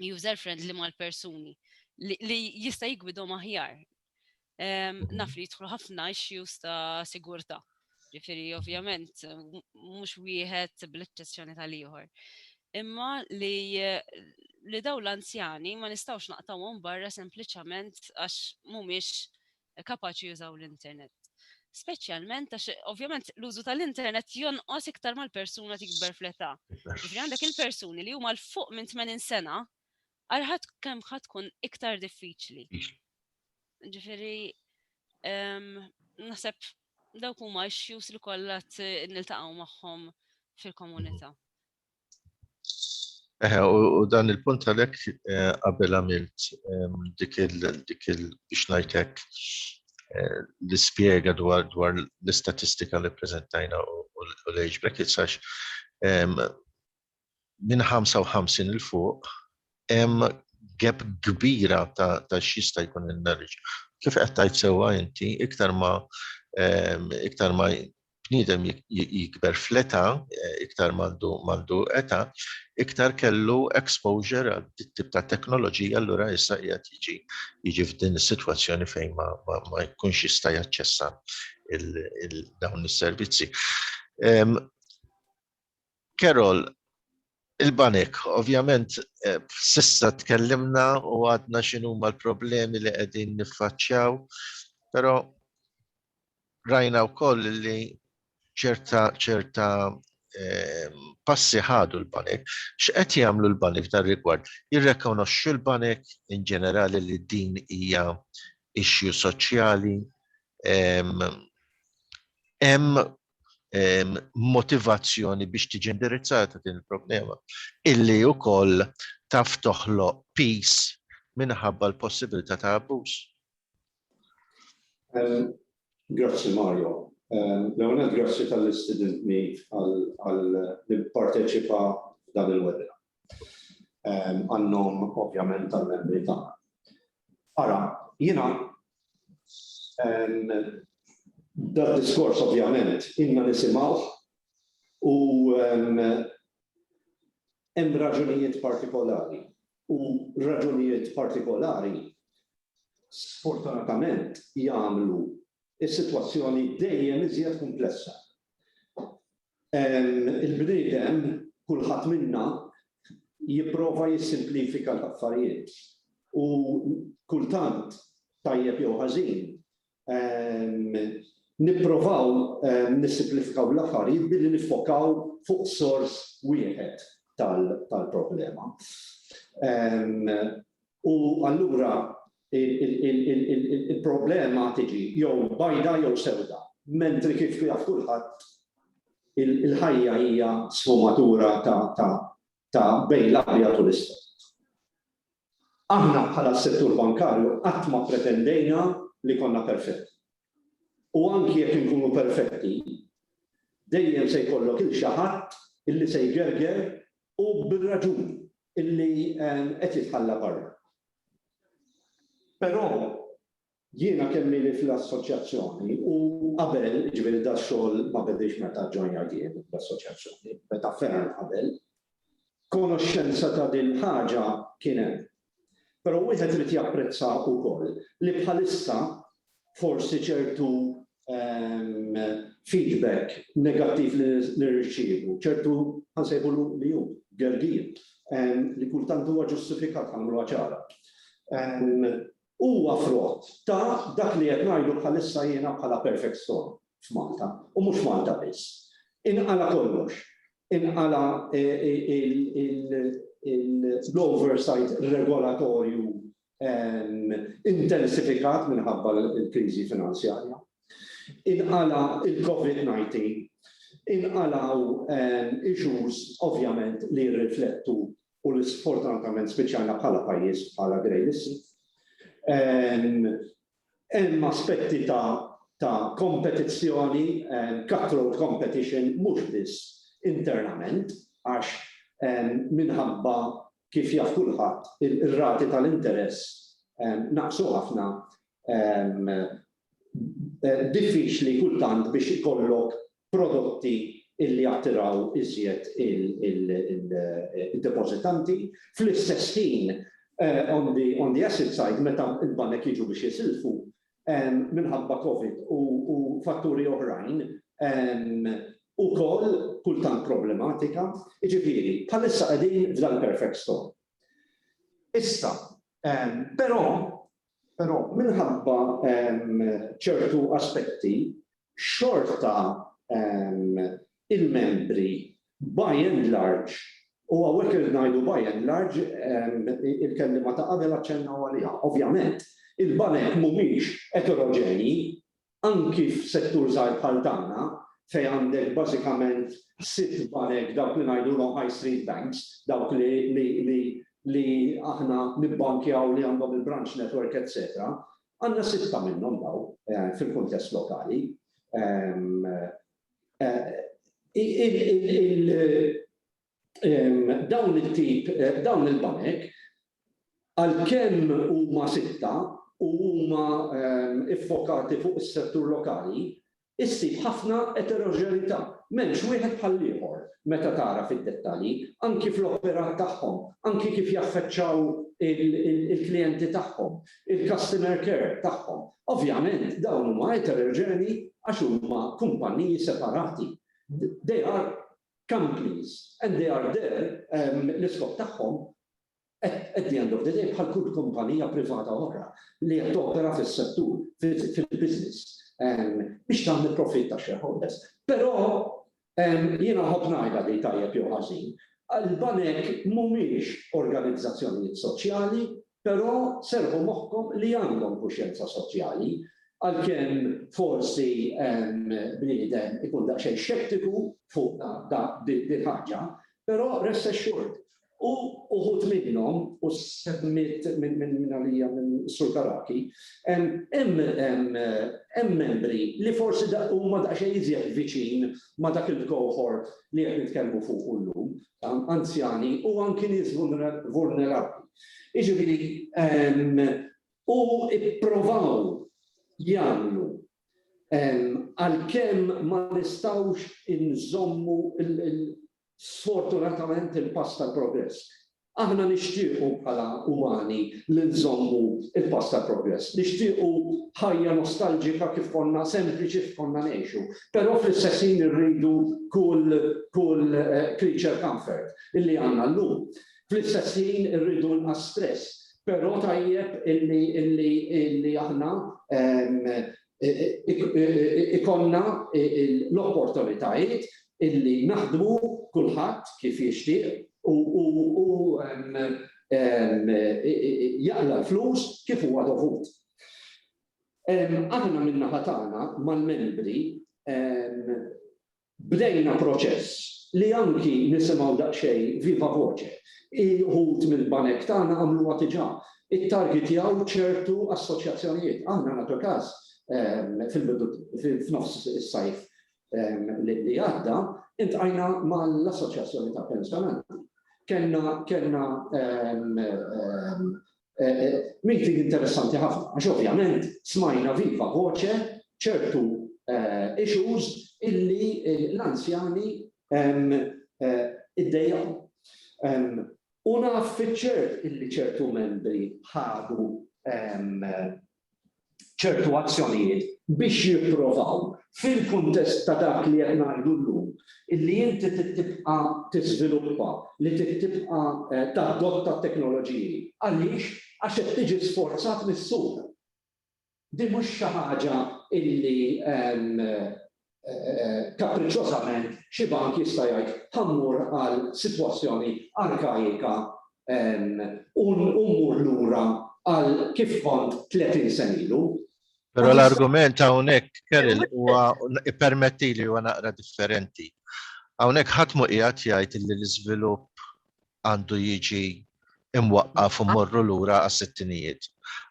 user friendly mal-persuni li jista' jigwidhom aħjar. Ehm, mhm. Naf li jidħlu ħafna issues ta' sigurtà. Ġifieri ovvjament mhux wieħed bl-eċċezzjoni tal-ieħor. Imma li li daw l-anzjani ma nistawx naqtawhom barra sempliċament għax mhumiex kapaċi jużaw l-internet. Speċjalment għax ovvjament l-użu tal-internet jonqos iktar mal-persuna tikber fl-età. Ġifri għandek il-persuni li huma l-fuq minn 80 sena għalħat kemm ħad tkun iktar diffiċli. Ġifiri, ehm, naħseb dawk huma issues li kollha niltaqgħu magħhom fil-komunità. Eħe, u dan il-punt għalek eh, qabel għamilt ehm, dik il biex najtek eh, l-spiega dwar dwar l-istatistika li prezentajna u l-age brackets għax ehm, minn 55 il-fuq hemm gap kbira ta' xista jkun il-knowledge. Kif qed tajt sewa inti iktar ma ehm, iktar ma bniedem jikber fl-età, iktar m'għandu età, iktar kellu exposure għal dit-tip ta' teknoloġija allura issa qiegħed jiġi jiġi f'din is-sitwazzjoni fejn ma ma jkunx jista' jaċċessa dawn is-servizzi. Carol, Il-banek, ovvjament s'issa tkellimna u għadna x'inhuma l-problemi li qegħdin niffaċċjaw, però rajna wkoll li ċerta passi ħadu l-banek. X'qed jagħmlu l-banek f'dan ir-rigward? Jirrikonoxxu l-banek in ġenerali li din hija issue soċjali? Hemm motivazzjoni biex tiġi indirizzata din il-problema, illi wkoll taf toħloq peace minħabba l-possibilità ta' abbuż. Grazzi Mario. L-ewwel grazzi tal-istidintni għal nipparteċipa f'dan il-webinar. għannom ovvjament tal-membri tagħna. Ara, jiena dan diskors ovvjament inna nisimgħu u hemm raġunijiet partikolari u raġunijiet partikolari sfortunatament jagħmlu s-sitwazzjoni dejjem iżjed kumplessa. Il-bniedem, kulħadd minna, jipprova jissimplifika l-affarijiet u kultant, tajjeb jew ħażin, nipprovaw nissimplifikaw l-affarijiet billi niffokaw fuq sors wieħed tal-problema. U allura il-problema tiġi jew bajda jew sewda, mentri kif jaf kulħadd il-ħajja hija sfumatura ta' bejn l-abjad u l-iswed. Aħna bħala s-settur bankarju qatt ma ppretendejna li konna perfetti. U anki jekk inkunu perfetti, dejjem se jkollok 'il xi ħadd illi se jgerger u bir-raġun. illi qed jitħalla barra. Però jiena kemm ili fl-assoċjazzjoni u qabel, jiġifieri dan ix-xogħol ma bediex meta ġġoinjajt jien l-assoċjazzjoni, beda ferm qabel, konoxxenza ta' din il-ħaġa kien hemm. Però wieħed irid japprezza wkoll li bħalissa forsi ċertu feedback negattiv li nirċievu, ċertu ħa nsejħulu mijun, gergir, li kultant huwa ġustifikat ħa nagħmluha ċara. Huwa frott ta' dak li qed ngħidu bħalissa jiena bħala perfect storm f'Malta u mhux Malta biss. Inqala' kollox, inqala' l-oversight regolatorju intensifikat minħabba l-kriżi finanzjarja. Inqala' il-COVID-19, inqalgħu issues ovvjament li jirriflettu u li sfortunatament spiċċajna bħala pajjiż bħala grey listed. Hemm aspetti ta' kompetizzjoni, cutthroat competition, mhux biss internament għax minħabba kif jaf kulħadd, ir-rati tal-interess naqsu ħafna, diffiċli kultant biex ikollok prodotti li jattiraw iżjed id-depożitanti. Fl-istess ħin, on the asset side, meta l-banek jiġu biex jisilfu, minħabba Covid u fatturi oħrajn ukoll kultant problematika. Jiġifieri, bħalissa qegħdin f'dan il-perfect storm. Issa, però, però minħabba ċertu aspetti xorta il-membri by and large, u hawnhekk irrid ngħidu by and large, il-kelliema ta' qabel aċċennaw għaliha, ovvjament il-banek mhumiex eteroġenji, anki f'settur żgħir bħal tagħna fejn għandek bażikament sitt banek dawk li ngħidulhom high street banks, dawk li aħna nibbankjaw li għandhom il-branch network etc. Għandna sitta minnhom dawn fil-kuntest lokali. Dawn it-tip, dawn il-banek, għalkemm huma sitta u huma ffokati fuq is-settur lokali, Issib ħafna eteroġenità, m'hemmx wieħed bħall-ieħor meta tara fid-dettalji, anki fl-operat tagħhom, anki kif jaffeċċaw il-klijenti tagħhom, il-customer care tagħhom. Ovvjament dawn huma eteroġenji għax huma kumpanniji separati. They are companies and they are there, l-iskop tagħhom At the end of the day, bħal kull kumpanija privata oħra li qed topera fis-settur, fil-business, biex tagħmel profitt għax-shareholders. Però jiena nħobb ngħidha din tajjeb jew ħażin, il-banek mhumiex organizzazzjonijiet soċjali, però serrħu moħħkom li għandhom kuxjenza soċjali, għalkemm forsi bniedem ikun daqsxejn xettiku fuqha din il-ħaġa, però rest assured U uħud minnhom, u semmiet minn għalija minn Sur Carracchi, hemm membri li forsi huma daqsxejn iżjed viċin ma' dak il-cohort li qed nitkellmu fuqu llum, anzjani u anki nies vulnerabbli. Jiġifieri, u ipprovaw jagħmlu, għalkemm ma nistgħux inżommu Sfortunatament il-pass tal-progress. Aħna nixtiequ bħala umani li nżommu l-pass tal-progress. Nixtiequ ħajja nostalġika kif konna sempliċi kif konna ngħixu. Però fl-istess ħin irridu kull kull creature comfort illi għandna llum. Fl-istess ħin irridu inqas stress. Però tajjeb illi illi illi aħna ikollna l-opportunitajiet illi naħdmu kulħadd kif jixtieq u jaqla' l-flus kif huwa dovut. Aħna min-naħa tagħna mal-membri Bdejna proċess li anki nisimgħu daqsxejn viva voce. Xi wħud mill-banek tagħna għamluha diġà, ittargitjaw ċertu assoċjazzjonijiet. Aħna nagħtu każ fil-bidu, f'nofs is-sajf li għadda, iltqajna mal-assoċjazzjoni tal-pensjonanti. Kellna Meeting interessanti ħafna għax ovvjament smajna viva voce ċertu issues illi l-anzjani iddejjaqu. U naf fiċ-ċert illi ċertu membri ħadu ċertu azzjonijiet biex jipprovaw, fil-kuntest ta' dak li qed ngħidu llum, li inti trid tibqa' tiżviluppa, li trid tibqa' tadotta t-teknoloġiji. Għaliex? Għax qed tiġi sforzat mis-suq. Din mhux xi ħaġa li kappriċċożament xi bank jista' jgħid ħa mmur għal sitwazzjoni arkaika u mmur lura għal kif kont 30 sena ilu. Però l-argument hawnhekk, Carol, huwa ippermettili huwa naqra differenti. Hawnhekk ħadd mhu qiegħed jgħid li l-iżvilupp għandu jiġi mwaqqaf u mmorru lura għas-sittinijiet.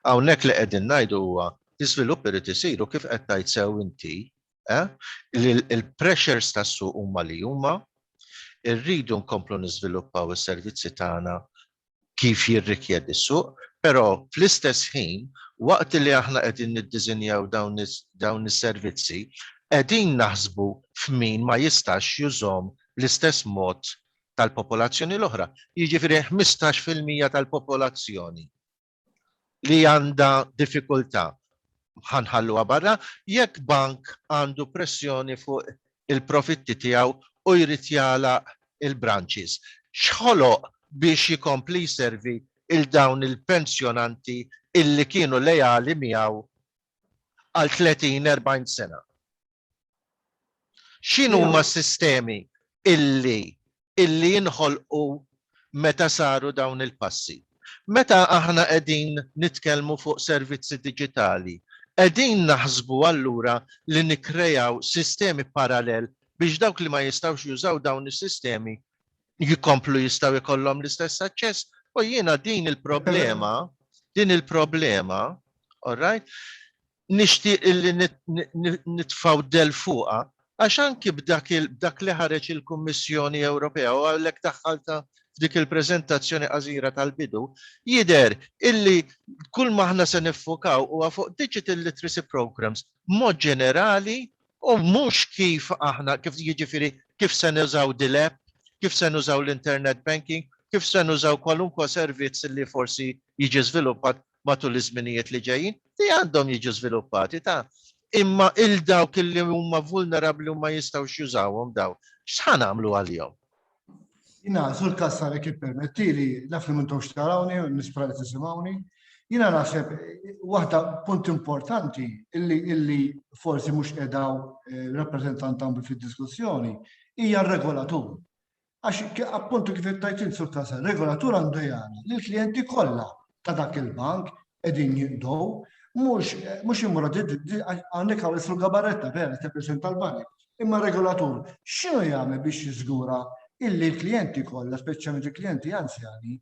Hawnhekk li qegħdin ngħidu huwa l-iżvilupp irid isir u kif qed tgħid sew inti, li l-pressures tas-suq huma li huma, irridu nkomplu niżviluppaw is-servizzi tagħna kif jirrikjedi s-suq, però fl-istess ħin waqt li aħna qegħdin niddiżinjaw dawn is-servizzi qegħdin naħsbu f'min ma jistax jużhom bl-istess mod tal-popolazzjoni l-oħra, jiġifieri ħmistax fil-mija tal-popolazzjoni li għandha diffikultà ħa nħalluha barra, jekk bank għandu pressjoni fuq il-profitti tiegħu u jrid jagħlaq il-branches, x'ħoloq biex jkompli jservi lil dawn il-pensjonanti illi kienu leali miegħu għal tletin, erbgħin sena? X'inhuma s-sistemi illi illi jinħolqu meta saru dawn il-passi? Meta aħna qegħdin nitkellmu fuq servizzi diġitali, qegħdin naħsbu allura li nikkrejaw sistemi parallel biex dawk li ma jistgħux jużaw dawn is-sistemi jkomplu jistgħu jkollhom l-istess aċċess? U jiena din il-problema, din il-problema, all right, nixtieq illi nitfgħu d-dell fuqha għax anki b'dak li ħareġ il-Kummissjoni Ewropea u għalhekk daħħaltha f'dik il-preżentazzjoni qasira tal-bidu, jidher illi kulma aħna se niffokaw huwa fuq digital literacy programmes b'mod ġenerali u mhux kif aħna, kif jiġifieri kif se nużaw dil-app, kif se nużaw l-internet banking, kif se nużaw kwalunkwe servizz li forsi jiġi żviluppat matul iż-żminijiet li ġejjin, li għandhom jiġu żviluppati ta'. Imma 'il dawk li huma vulnerabbli u ma jistgħux jużawhom dawn, x'ħa nagħmlu għalihom? Jina, sur kassar kif permettili, naf li m'intux tarawni, nispra li tisimgħuni. Jina naħseb waħda punt importanti illi illi forsi mhux qedaw eh, rappreżentant għamlu fid-diskussjoni hija r-regolatur. Għax appuntu kif tajt int sur kasa, regolatur għandu jgħana li l-klijenti kollha ta' dak il-bank qegħdin jinqdow, mhux mhux imur hawnhekk hawn isru gabaretta vera tippreżenta l-banek. Imma regolatur x'inhu jagħmel biex jiżgura illi l-klijenti kollha, speċjalment il-klijenti anzjani,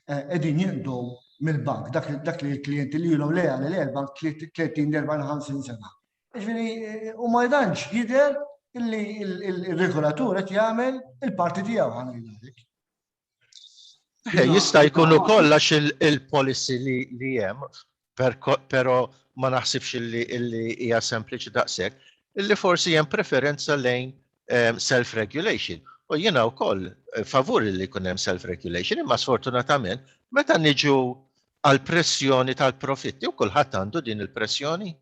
eh, qegħdin jinqdow mill-bank, dak li l-klijenti li jilhom leja li leja l-bank 30-40 sena. Ġifieri u ma jdanx jidher illi il-regolatur qed jagħmel il-parti tiegħu ħanajlek. Jista' jkun ukoll għax il-policy li hemm, però ma naħsibx illi hija sempliċi daqshekk, illi forsi hemm preferenza lejn ehm, self-regulation. U jiena wkoll eh, favur li jkun hemm self-regulation, imma sfortunatament meta niġu għal pressjoni tal-profitti u kulħadd għandu din il-pressjoni.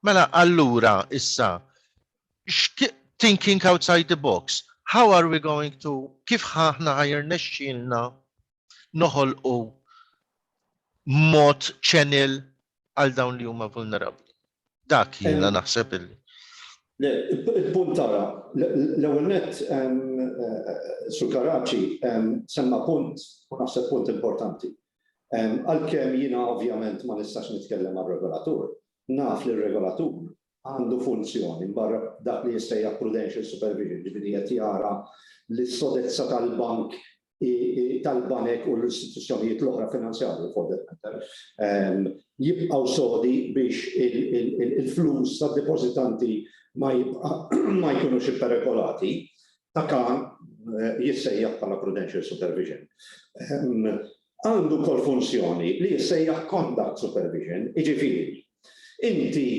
Mela allura issa thinking outside the box, how are we going to kif ħahna ħajr nexxilna noħolqu mod channel għal dawn li huma vulnerabbli. Dak jiena naħseb illi. Il-punt tara, l-ewwel nett eh, Sur Karaċi semma punt u naħseb punt importanti. Għalkemm jiena ovvjament ma nistax nitkellem għar-regolatur, naf li r-regolatur għandu funzjoni mbarra dak li jissejjaħ prudential supervision, jiġifieri qed jara li s-sodezza tal-bank tal-banek u l-istituzzjonijiet l-oħra finanzjarji for that matter jibqgħu sodi biex il-flus tad-depożitanti ma jkunux iperikolati. ta' kan jissejjaħ bħala prudential supervision. Għandu wkoll funzjoni li jissejjaħ conduct supervision, jiġifieri inti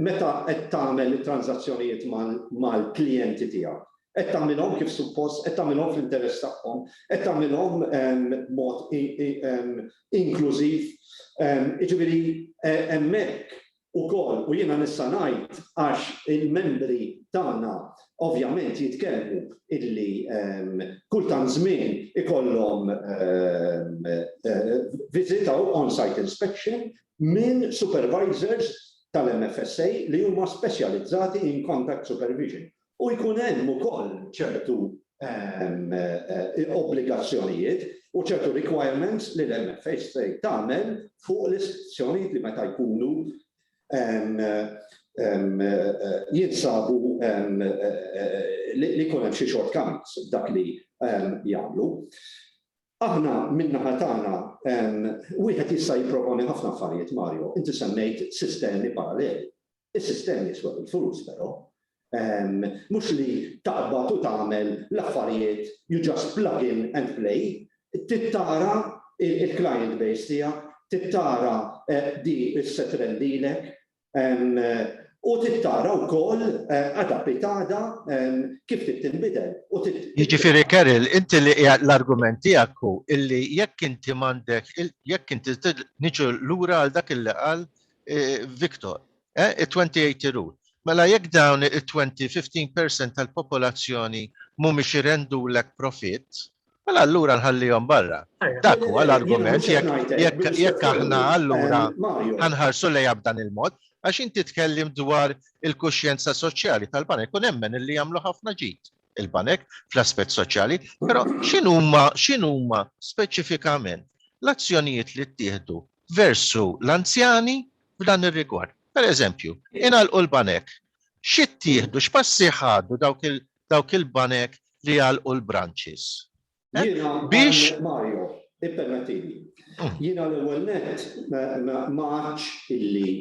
meta qed tagħmel it-tranżazzjonijiet mal-klijenti tiegħek, qed tagħmilhom kif suppost, qed tagħmilhom fl-interess tagħhom, qed tagħmilhom b'mod inklużiv, jiġifieri hemmhekk ukoll, u jiena nista' ngħid għax il-membri tagħna ovvjament jitkellmu illi kull tant żmien ikollhom visit u on-site inspection minn supervisors tal-MFSA li huma speċjalizzati in contact supervision u jkun hemm ukoll ċertu obbligazzjonijiet u ċertu requirements li l-MFA se tagħmel fuq l-istituzzjonijiet li meta jkunu jinsabu li jkun hemm xi shortcomings f'dak li jagħmlu. Aħna min-naħa tagħna wieħed jista' jipproponi ħafna affarijiet, Mario. Inti semmejt sistemi paralleli. Is-sistemi jiswew il-flus però. Mhux li taqbad u tagħmel l-affarijiet, you just plug in and play. Trid tara l-client base tiegħek, trid tara dik li se trendilek u trid tara wkoll għada bit għada kif trid tinbidel u trid. Jiġifieri Carol, inti li qiegħed l-argument tiegħek hu li jekk inti m'għandek, jekk inti, niġu lura għal dak li qal Victor, eh, it-2080 rule. Mela jekk dawn it-20, 15% tal-popolazzjoni mhumiex irendulek profitt, mela allura nħallihom barra. Dak huwa l-argument jekk aħna allura ħanħarsu lejha b'dan il-mod, għax inti tkellimt dwar il-kuxjenza soċjali tal-banek u nemmen illi jagħmlu ħafna ġid il-banek fl-aspett soċjali, però x'inhuma x'inhuma speċifikament l-azzjonijiet li ttieħdu versu l-anzjani f'dan ir-rigward. Pereżempju, ingħalqu l-banek. Xi ttieħdu, x'passi ħadu dawk il-banek li għalqu l-branches? Jiena, Hawnhekk Mario, ippermettili. Jiena l-ewwel nett ma għadtx illi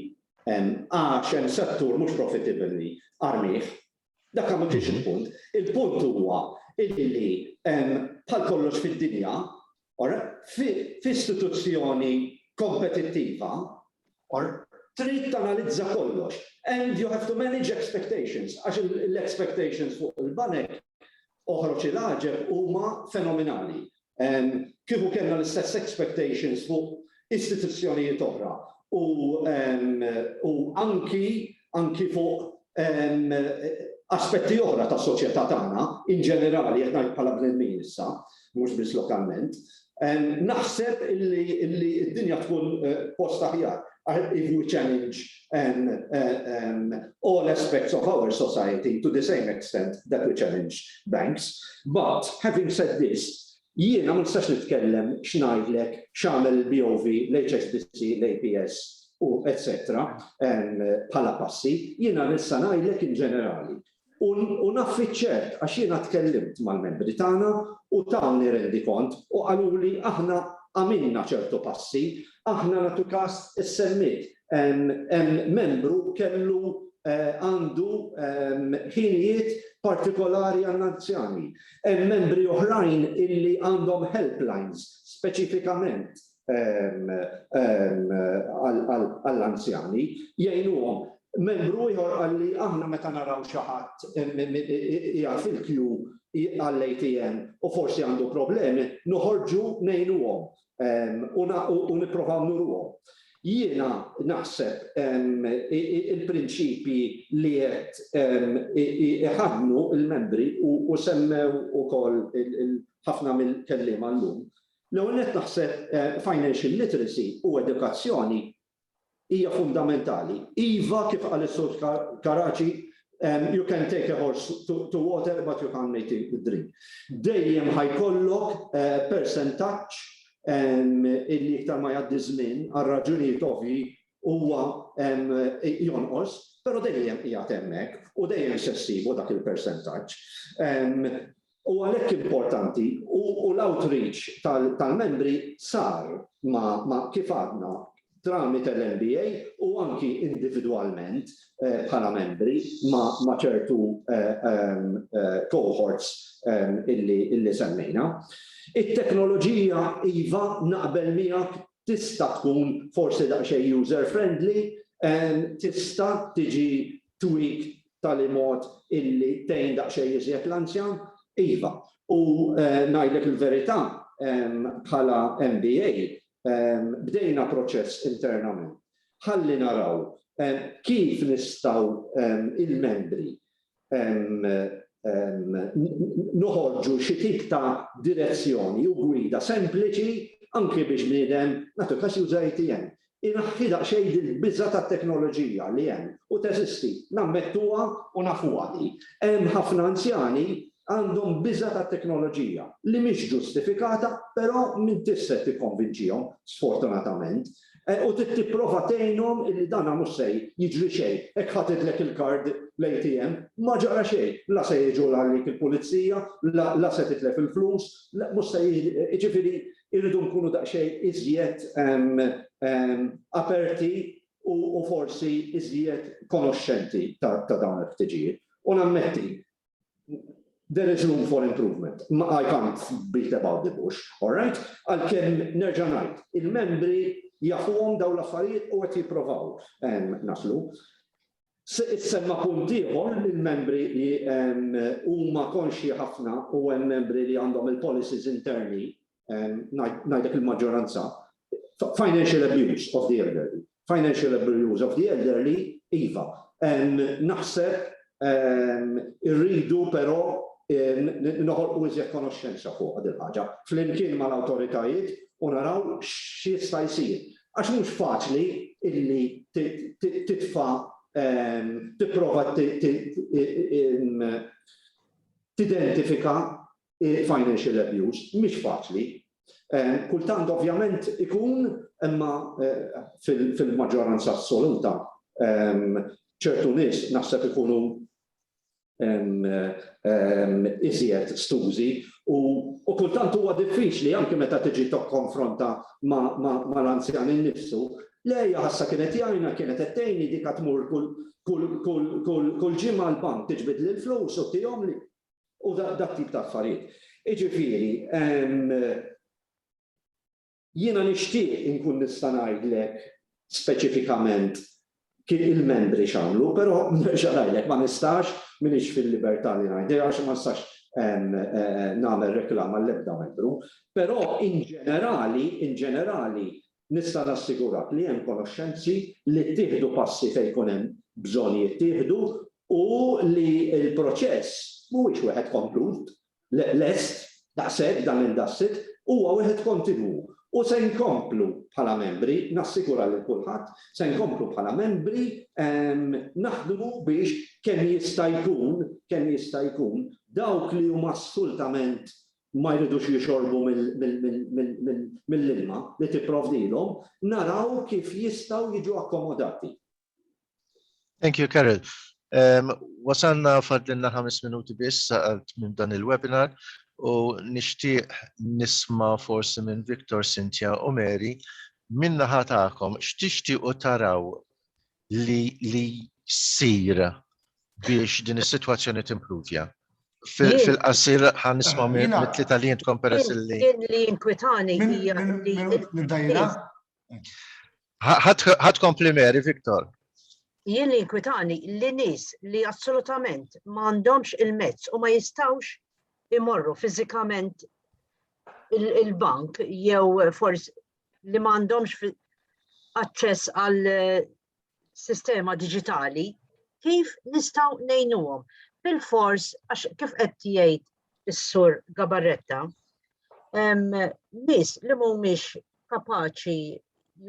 għax hemm settur mhux profitable li armih, Dak ma kienx il-punt. Il-punt huwa illi bħal kollox fid-dinja, or f'istituzzjoni kompetittiva, or trid tanalizza kollox and you have to manage expectations għax l-expectations fuq il-banek Oħroġ il-għaġeb huma fenominali. Kieku kellna l-istess expectations fuq istituzzjonijiet oħra u anki fuq aspetti oħra tas-soċjetà tagħna in ġenerali, qed ngħid bħala bnedmin issa, mhux biss lokalment, Naħseb illi d-dinja tkun post aħjar if we challenge all aspects of our society to the same extent that we challenge banks. But, having said this, jiena ma nistax nitkellem x'ngħidlek x'għamel il-BOV, l-HSBC, l-APS u etc bħala passi, jiena nista' ngħidlek in ġenerali. U naf fiċ-ċert, għax jiena tkellimt mal-membri tagħna u tawni rendikont u qaluli aħna għamilna ċertu passi, aħna nagħtu kas is-semmiet hemm membru kellu għandu ħinijiet partikolari għall-anzjani, hemm membri oħrajn illi għandhom helplines speċifikament għall-anzjani jgħinuhom. Membru ieħor qal li aħna meta naraw xi ħadd qiegħed fil-kju għall-ATM u forsi għandu problemi, noħorġu ngħinuhom u nipprovaw nuruhom. Jiena naħseb il-prinċipji li qed iħaddnu l-membri u semmew ukoll ħafna mill-kelliema llum, L-ewwel nett naħseb financial literacy u edukazzjoni hija fundamentali. Iva, kif qal is-Sur Caraci, you can take a horse to water but you can't make it drink. Dejjem ħa jkollok persentaġġ illi iktar ma jgħaddi ż-żmien, għal raġunijiet ovvji, huwa jonqos, però dejjem qiegħed hemmhekk u dejjem se ssibu dak il-persentaġġ. u għalhekk importanti, u l-outreach tal-membri sar ma', kif għadna, tramite l-MBA u anki individwalment bħala membri ma' ċertu cohorts illi semmejna. It-teknoloġija, iva, naqbel miegħek, tista' tkun forsi daqsxejn user friendly, tista' tiġi Turik b'tali mod illi tgħin daqsxejn iżjed l-anzjan? Iva. U ngħidlek il-verità, bħala MBA, bdejna proċess internament ħalli naraw kif nistgħu l-membri noħorġu xi tip ta' direzzjoni u gwida sempliċi anki biex bniedem, nagħtu każ, juża ATM. Inaħħi daqsxejn din il-biża' tat-teknoloġija li hemm u teżisti, nammettuha u nafuha li hemm ħafna anzjani għandhom biża' tat-teknoloġija li mhix ġustifikata però m'intix se tikkonvinċihom sfortunatament u trid tipprova tgħinhom illi dan mhux se jiġri xejn hekk ħatidlek il-kard l-ATM ma ġara xejn la se jiġu għalik il-pulizija la se titlef il-flus mhux se jiġri jiġifieri irridu nkunu daqsxejn iżjed aperti u forsi iżjed konoxxenti ta' dawn il-ħtiġijiet. U nammetti, there is room for improvement. I can't beat about the bush, all right? Għalkemm nerġa' ngħid, il-membri jafuhom dawn l-affarijiet u qed jipprovaw naslu. Issemma punt ieħor li l-membri huma konxji ħafna u hemm membri li għandhom il-policies interni, ngħidlek il-maġġoranza, financial abuse of the elderly. Financial abuse of the elderly, iva. Naħseb irridu però noħolqu iżjed konoxxenza fuqha dil-ħaġa flimkien mal-awtoritajiet u naraw x'jista' jsir. Għax mhux faċli illi titfa' tipprova tidentifika financial abuse, mhix faċli. Kultant ovvjament ikun, imma fil-maġġoranza assoluta ċertu nies naħseb ikunu iżjed stużi u kultant huwa diffiċli anke meta tiġi tokkonfronta ma' l-anzjan innifsu. Le, hija ħassha kienet jgħinha, kienet qed tgħinni, dik għad tmur kull ġimgħa għall-bank tiġbidli l-flus u tihomli u dat-tip ta' affarijiet. Jiġifieri, Jiena nixtieq inkun nista' ngħidlek speċifikament kif il-membri x'għamlu, però nerġa' ngħidlek, ma nistax, m'iniex fil-libertà li ngħidlek għax ma nistax nagħmel reklama għall-ebda membru, però in ġenerali, in ġenerali, nista' nassigurak li hemm konoxxenzi, li ttieħdu passi fejn ikun hemm bżonn jittieħdu u li l-proċess mhuwiex wieħed komplut, Le, lest, daqshekk dan il-dassit huwa wieħed kontinwu u se nkomplu bħala membri, nassigura lil kulħadd, se nkomplu bħala membri naħdmu biex kemm jista' jkun, kemm jista' jkun, dawk li huma assultament ma jridux jixorbu mill-ilma li tipprovdilhom, naraw kif jistgħu jiġu akkomodati. Thank you, Carol. Wasalna fadlinna ħames minuti biss għal tmiem dan il-webinar u nixtieq nisma' forsi minn Victor, Cynthia u Mary min-naħa tagħkom x'tixtiequ taraw li jsir biex din is-sitwazzjoni timpruvja. Fil-qasir ħan nisma' mit-tlieta li intkom peress li. Jien li jinkwitani hija li. Nibda jiena? Ħadd kompli Mary, Viktor. Jien li inkwitani li nies li assolutament ma għandhomx il-mezz u ma jistawx imorru fiżikament il-bank jew forsi li ma għandhomx aċċess għal sistema diġitali, kif nistgħu ngħinuhom? Bil-fors, għax kif qed jgħid is-sur Gabarretta, nies li mhumiex kapaċi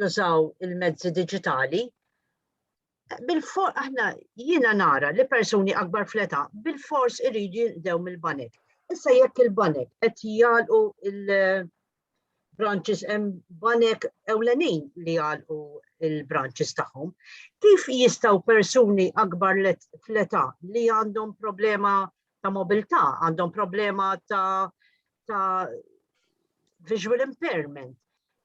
jużaw il-mezzi diġitali, bil-for aħna jiena nara li persuni akbar fleta bil-fors iridu jindew mill-banek. Issa jekk il-banek qed jgħalqu branches hemm banek ewlenin li għalqu il-branches tagħhom. Kif jistgħu persuni akbar fl-età li għandhom problema ta' mobilità, għandhom problema ta', ta visual impairment,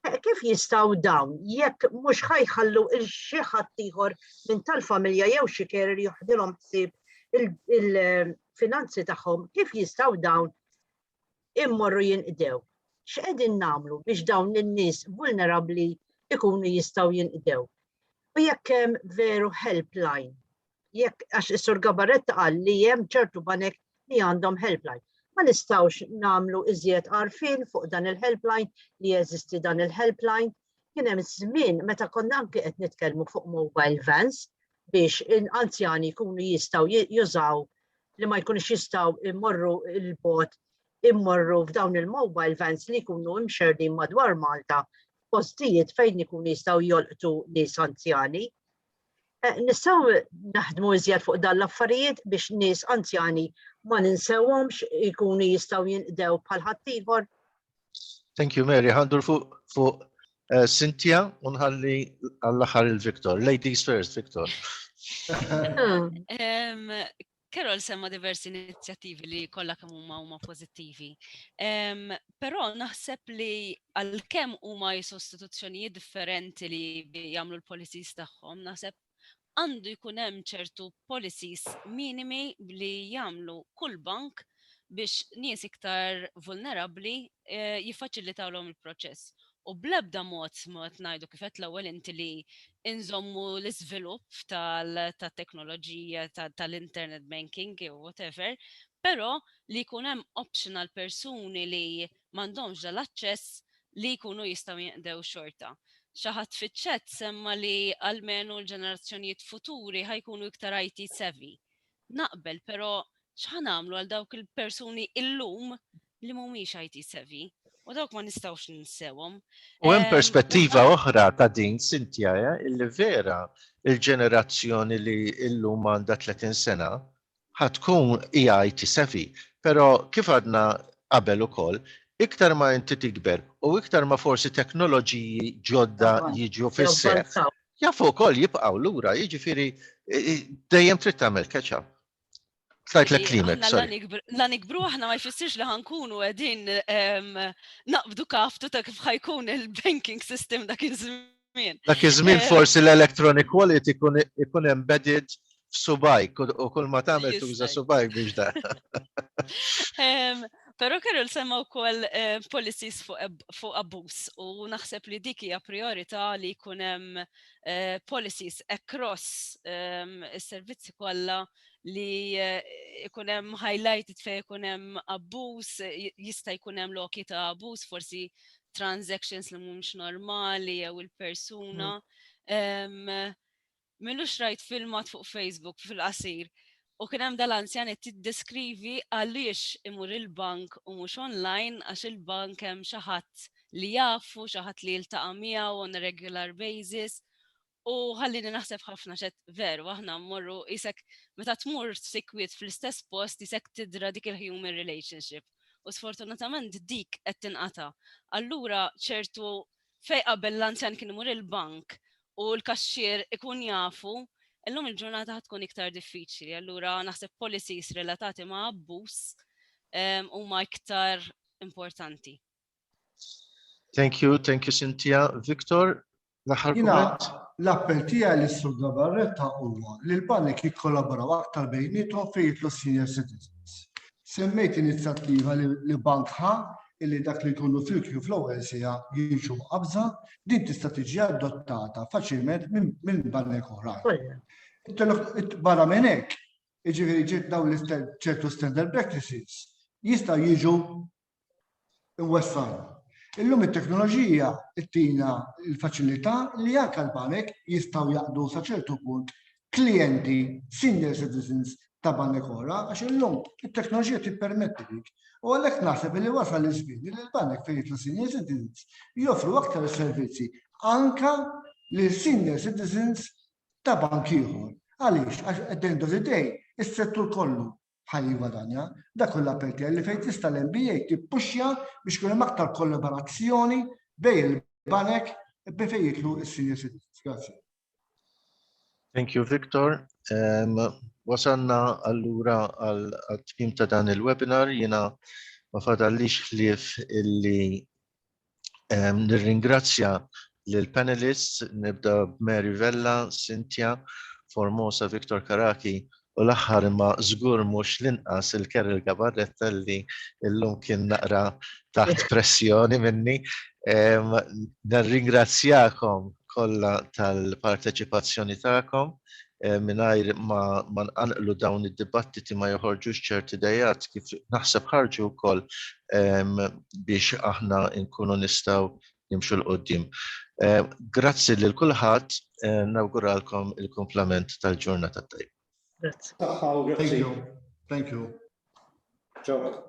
eh, kif jistaw dawn jekk mhux ħajħallu il xi ħadd ieħor minn tal-familja jew xi kerer joħdilhom ħsieb il-finanzi tagħhom, kif jistaw dawn immorru jinqdew. X'qegħdin nagħmlu biex dawn in-nies vulnerabbli jkunu jistgħu jinqdew? U jekk hemm veru helpline, jekk għax is-Sur Gabaretta qal li hemm ċertu banek li għandhom helpline. Ma nistawx namlu iżjed għarfien fuq dan il-helpline li jeżisti dan il-helpline. Kien hemm żmien meta konna anke qed nitkellmu fuq mobile vans, biex anzjani jkunu jistgħu jużaw li ma jkunux jistgħu immorru il-bot immorru f'dawn il-mobile vans li jkunu imxerdin madwar Malta postijiet fejn ikunu jistgħu jolqtu nies anzjani. Eh, nistgħu naħdmu iżjed fuq dan l-affarijiet biex nies anzjani ma ninsewhomx ikunu jistgħu jinqdew bħal ħaddieħor. Thank you, Mary. Għandur fuq fu, uh, eh, Cynthia unħalli għall-axar il-Victor. Ladies first, Victor. um, Carol semma diversi inizjattivi li kollha kemm huma huma pożittivi. Um, Però naħseb li għalkemm huma sostituzzjonijiet differenti li jagħmlu l-policies tagħhom, naħseb għandu jkun hemm ċertu policies minimi li jagħmlu kull bank biex nies iktar vulnerabbli jiffaċilitawlhom il-proċess. U bl-ebda mod ma qed ngħidu kif qed l-ewwel inti li nżommu l-iżvilupp tat-teknoloġija tal-internet banking jew whatever, però li jkun hemm option għall-persuni li m'għandhomx dal-aċċess li jkunu jistgħu jinqdew xorta. Xi ħadd fiċ-chat semma li almenu l-ġenerazzjonijiet futuri ħa jkunu iktar IT savvy. Naqbel, però x'ħa nagħmlu għal dawk il-persuni illum li mhumiex IT savvy? U dawk ma nistgħux ninsewhom. U hemm perspettiva oħra ta' din Sintja, illi vera il-ġenerazzjoni li illum għandha 30 sena Ħa tkun, jgħid is-Sefi. Però, kif għadna qabel ukoll, iktar ma inti tikber u iktar ma forsi teknoloġiji ġodda jiġu fis-seħħ, jafu wkoll jibqgħu lura, jiġifieri dejjem trid tagħmel catch up. Tajtlek klimek, sorry. La nikbru aħna ma jfissirx li ħankunu qegħdin naqbdu kaftu ta' kif ħajkun il-banking system dak iż-żmien. żmien. Dak iż-żmien eh, forsi l-electronic wallet ikun embedded f'subajk u kull ma tagħmel tuża subajk biex da. Pero kellu l-semma wkoll eh, policies fuq abbuż u naħseb li dik hija priorità li jkun hemm eh, policies across ehm, is-servizzi kollha li eh, ikun hemm highlighted fejn ikun hemm abbuż, jista' jkun hemm loki ta' abbuż, forsi transactions li mhumiex normali jew il-persuna. Mm. Minux rajt filmat fuq Facebook fil-qasir. U kien hemm dal-anzjan qed tiddeskrivi għaliex imur il-bank u mhux online għax il-bank hemm xi ħadd li jafu, xi ħadd li jiltaqa' miegħu on a regular basis U ħallini naħseb ħafna xed veru, aħna mmorru isek meta tmur sikwit fl-istess post isek tidra dik il-human relationship. U sfortunatament dik qed tinqata. Allura ċertu fej qabel l-anzjan kien imur il-bank u l-kaxxier ikun jafu, illum il-ġurnata tkun iktar diffiċli. Allura naħseb policies relatati ma' abbuż huma iktar importanti. Thank you, thank you Cynthia. Victor, l-aħħar kumment? L-appell tiegħi li sur Gabarretta huwa li l-banek jikkollaboraw aktar bejnietom fejn jitlu senior citizens. Semmejt inizjattiva li bank ħa illi dak li jkunu fil-kju fl-ewwel sija jiġu qabża, din tista' tiġi adottata faċilment minn banek oħra. Barra minn hekk, jiġifieri ġiet dawn ċertu standard practices jistgħu jiġu iwassalna. Illum it-teknoloġija ttina l-faċilità li anke l-banek jistgħu jaqdu sa ċertu punt klijenti senior citizens ta' banek oħra għax illum it-teknoloġija tippermetti dik. U għalhekk naħseb li wasal iż-żmien li l-banek fejn jitlu senior citizens joffru aktar servizzi anke lil senior citizens ta' bank ieħor. Għaliex? Għax at the end of the day, is-settur kollu bħal jigwadanja, dak hu l-appell tiegħi li fejn tista' l-NBA tippuxja biex ikun hemm aktar kollaborazzjoni bejn il-banek minn fejn jitlu s-senior citizens. Grazzi. Thank you, Victor. Um, wasanna allura għal-tmim ta' dan il-webinar, jina ma fadallix ħlief illi Nirringrazzja lill-panelists, nibda b'Mary Vella, Cynthia, Formosa, Victor Caraki u l-aħħar imma żgur mhux l-inqas il-Carol Gabarretta li llum kien naqra taħt pressjoni minni. Nirringrazzjakom kollha tal-parteċipazzjoni tagħkom. Eh, mingħajr ma, ma nqanqlu dawn id-dibattiti ma joħorġux ċerti dejat kif naħseb ħarġu wkoll ehm, biex aħna nkunu nistgħu nimxu l-qoddim. Eh, grazzi lil kulħadd, eh, nawguralkom il-komplement tal-ġurnata tajb. Grazzi. Thank you. Thank you. Ciao.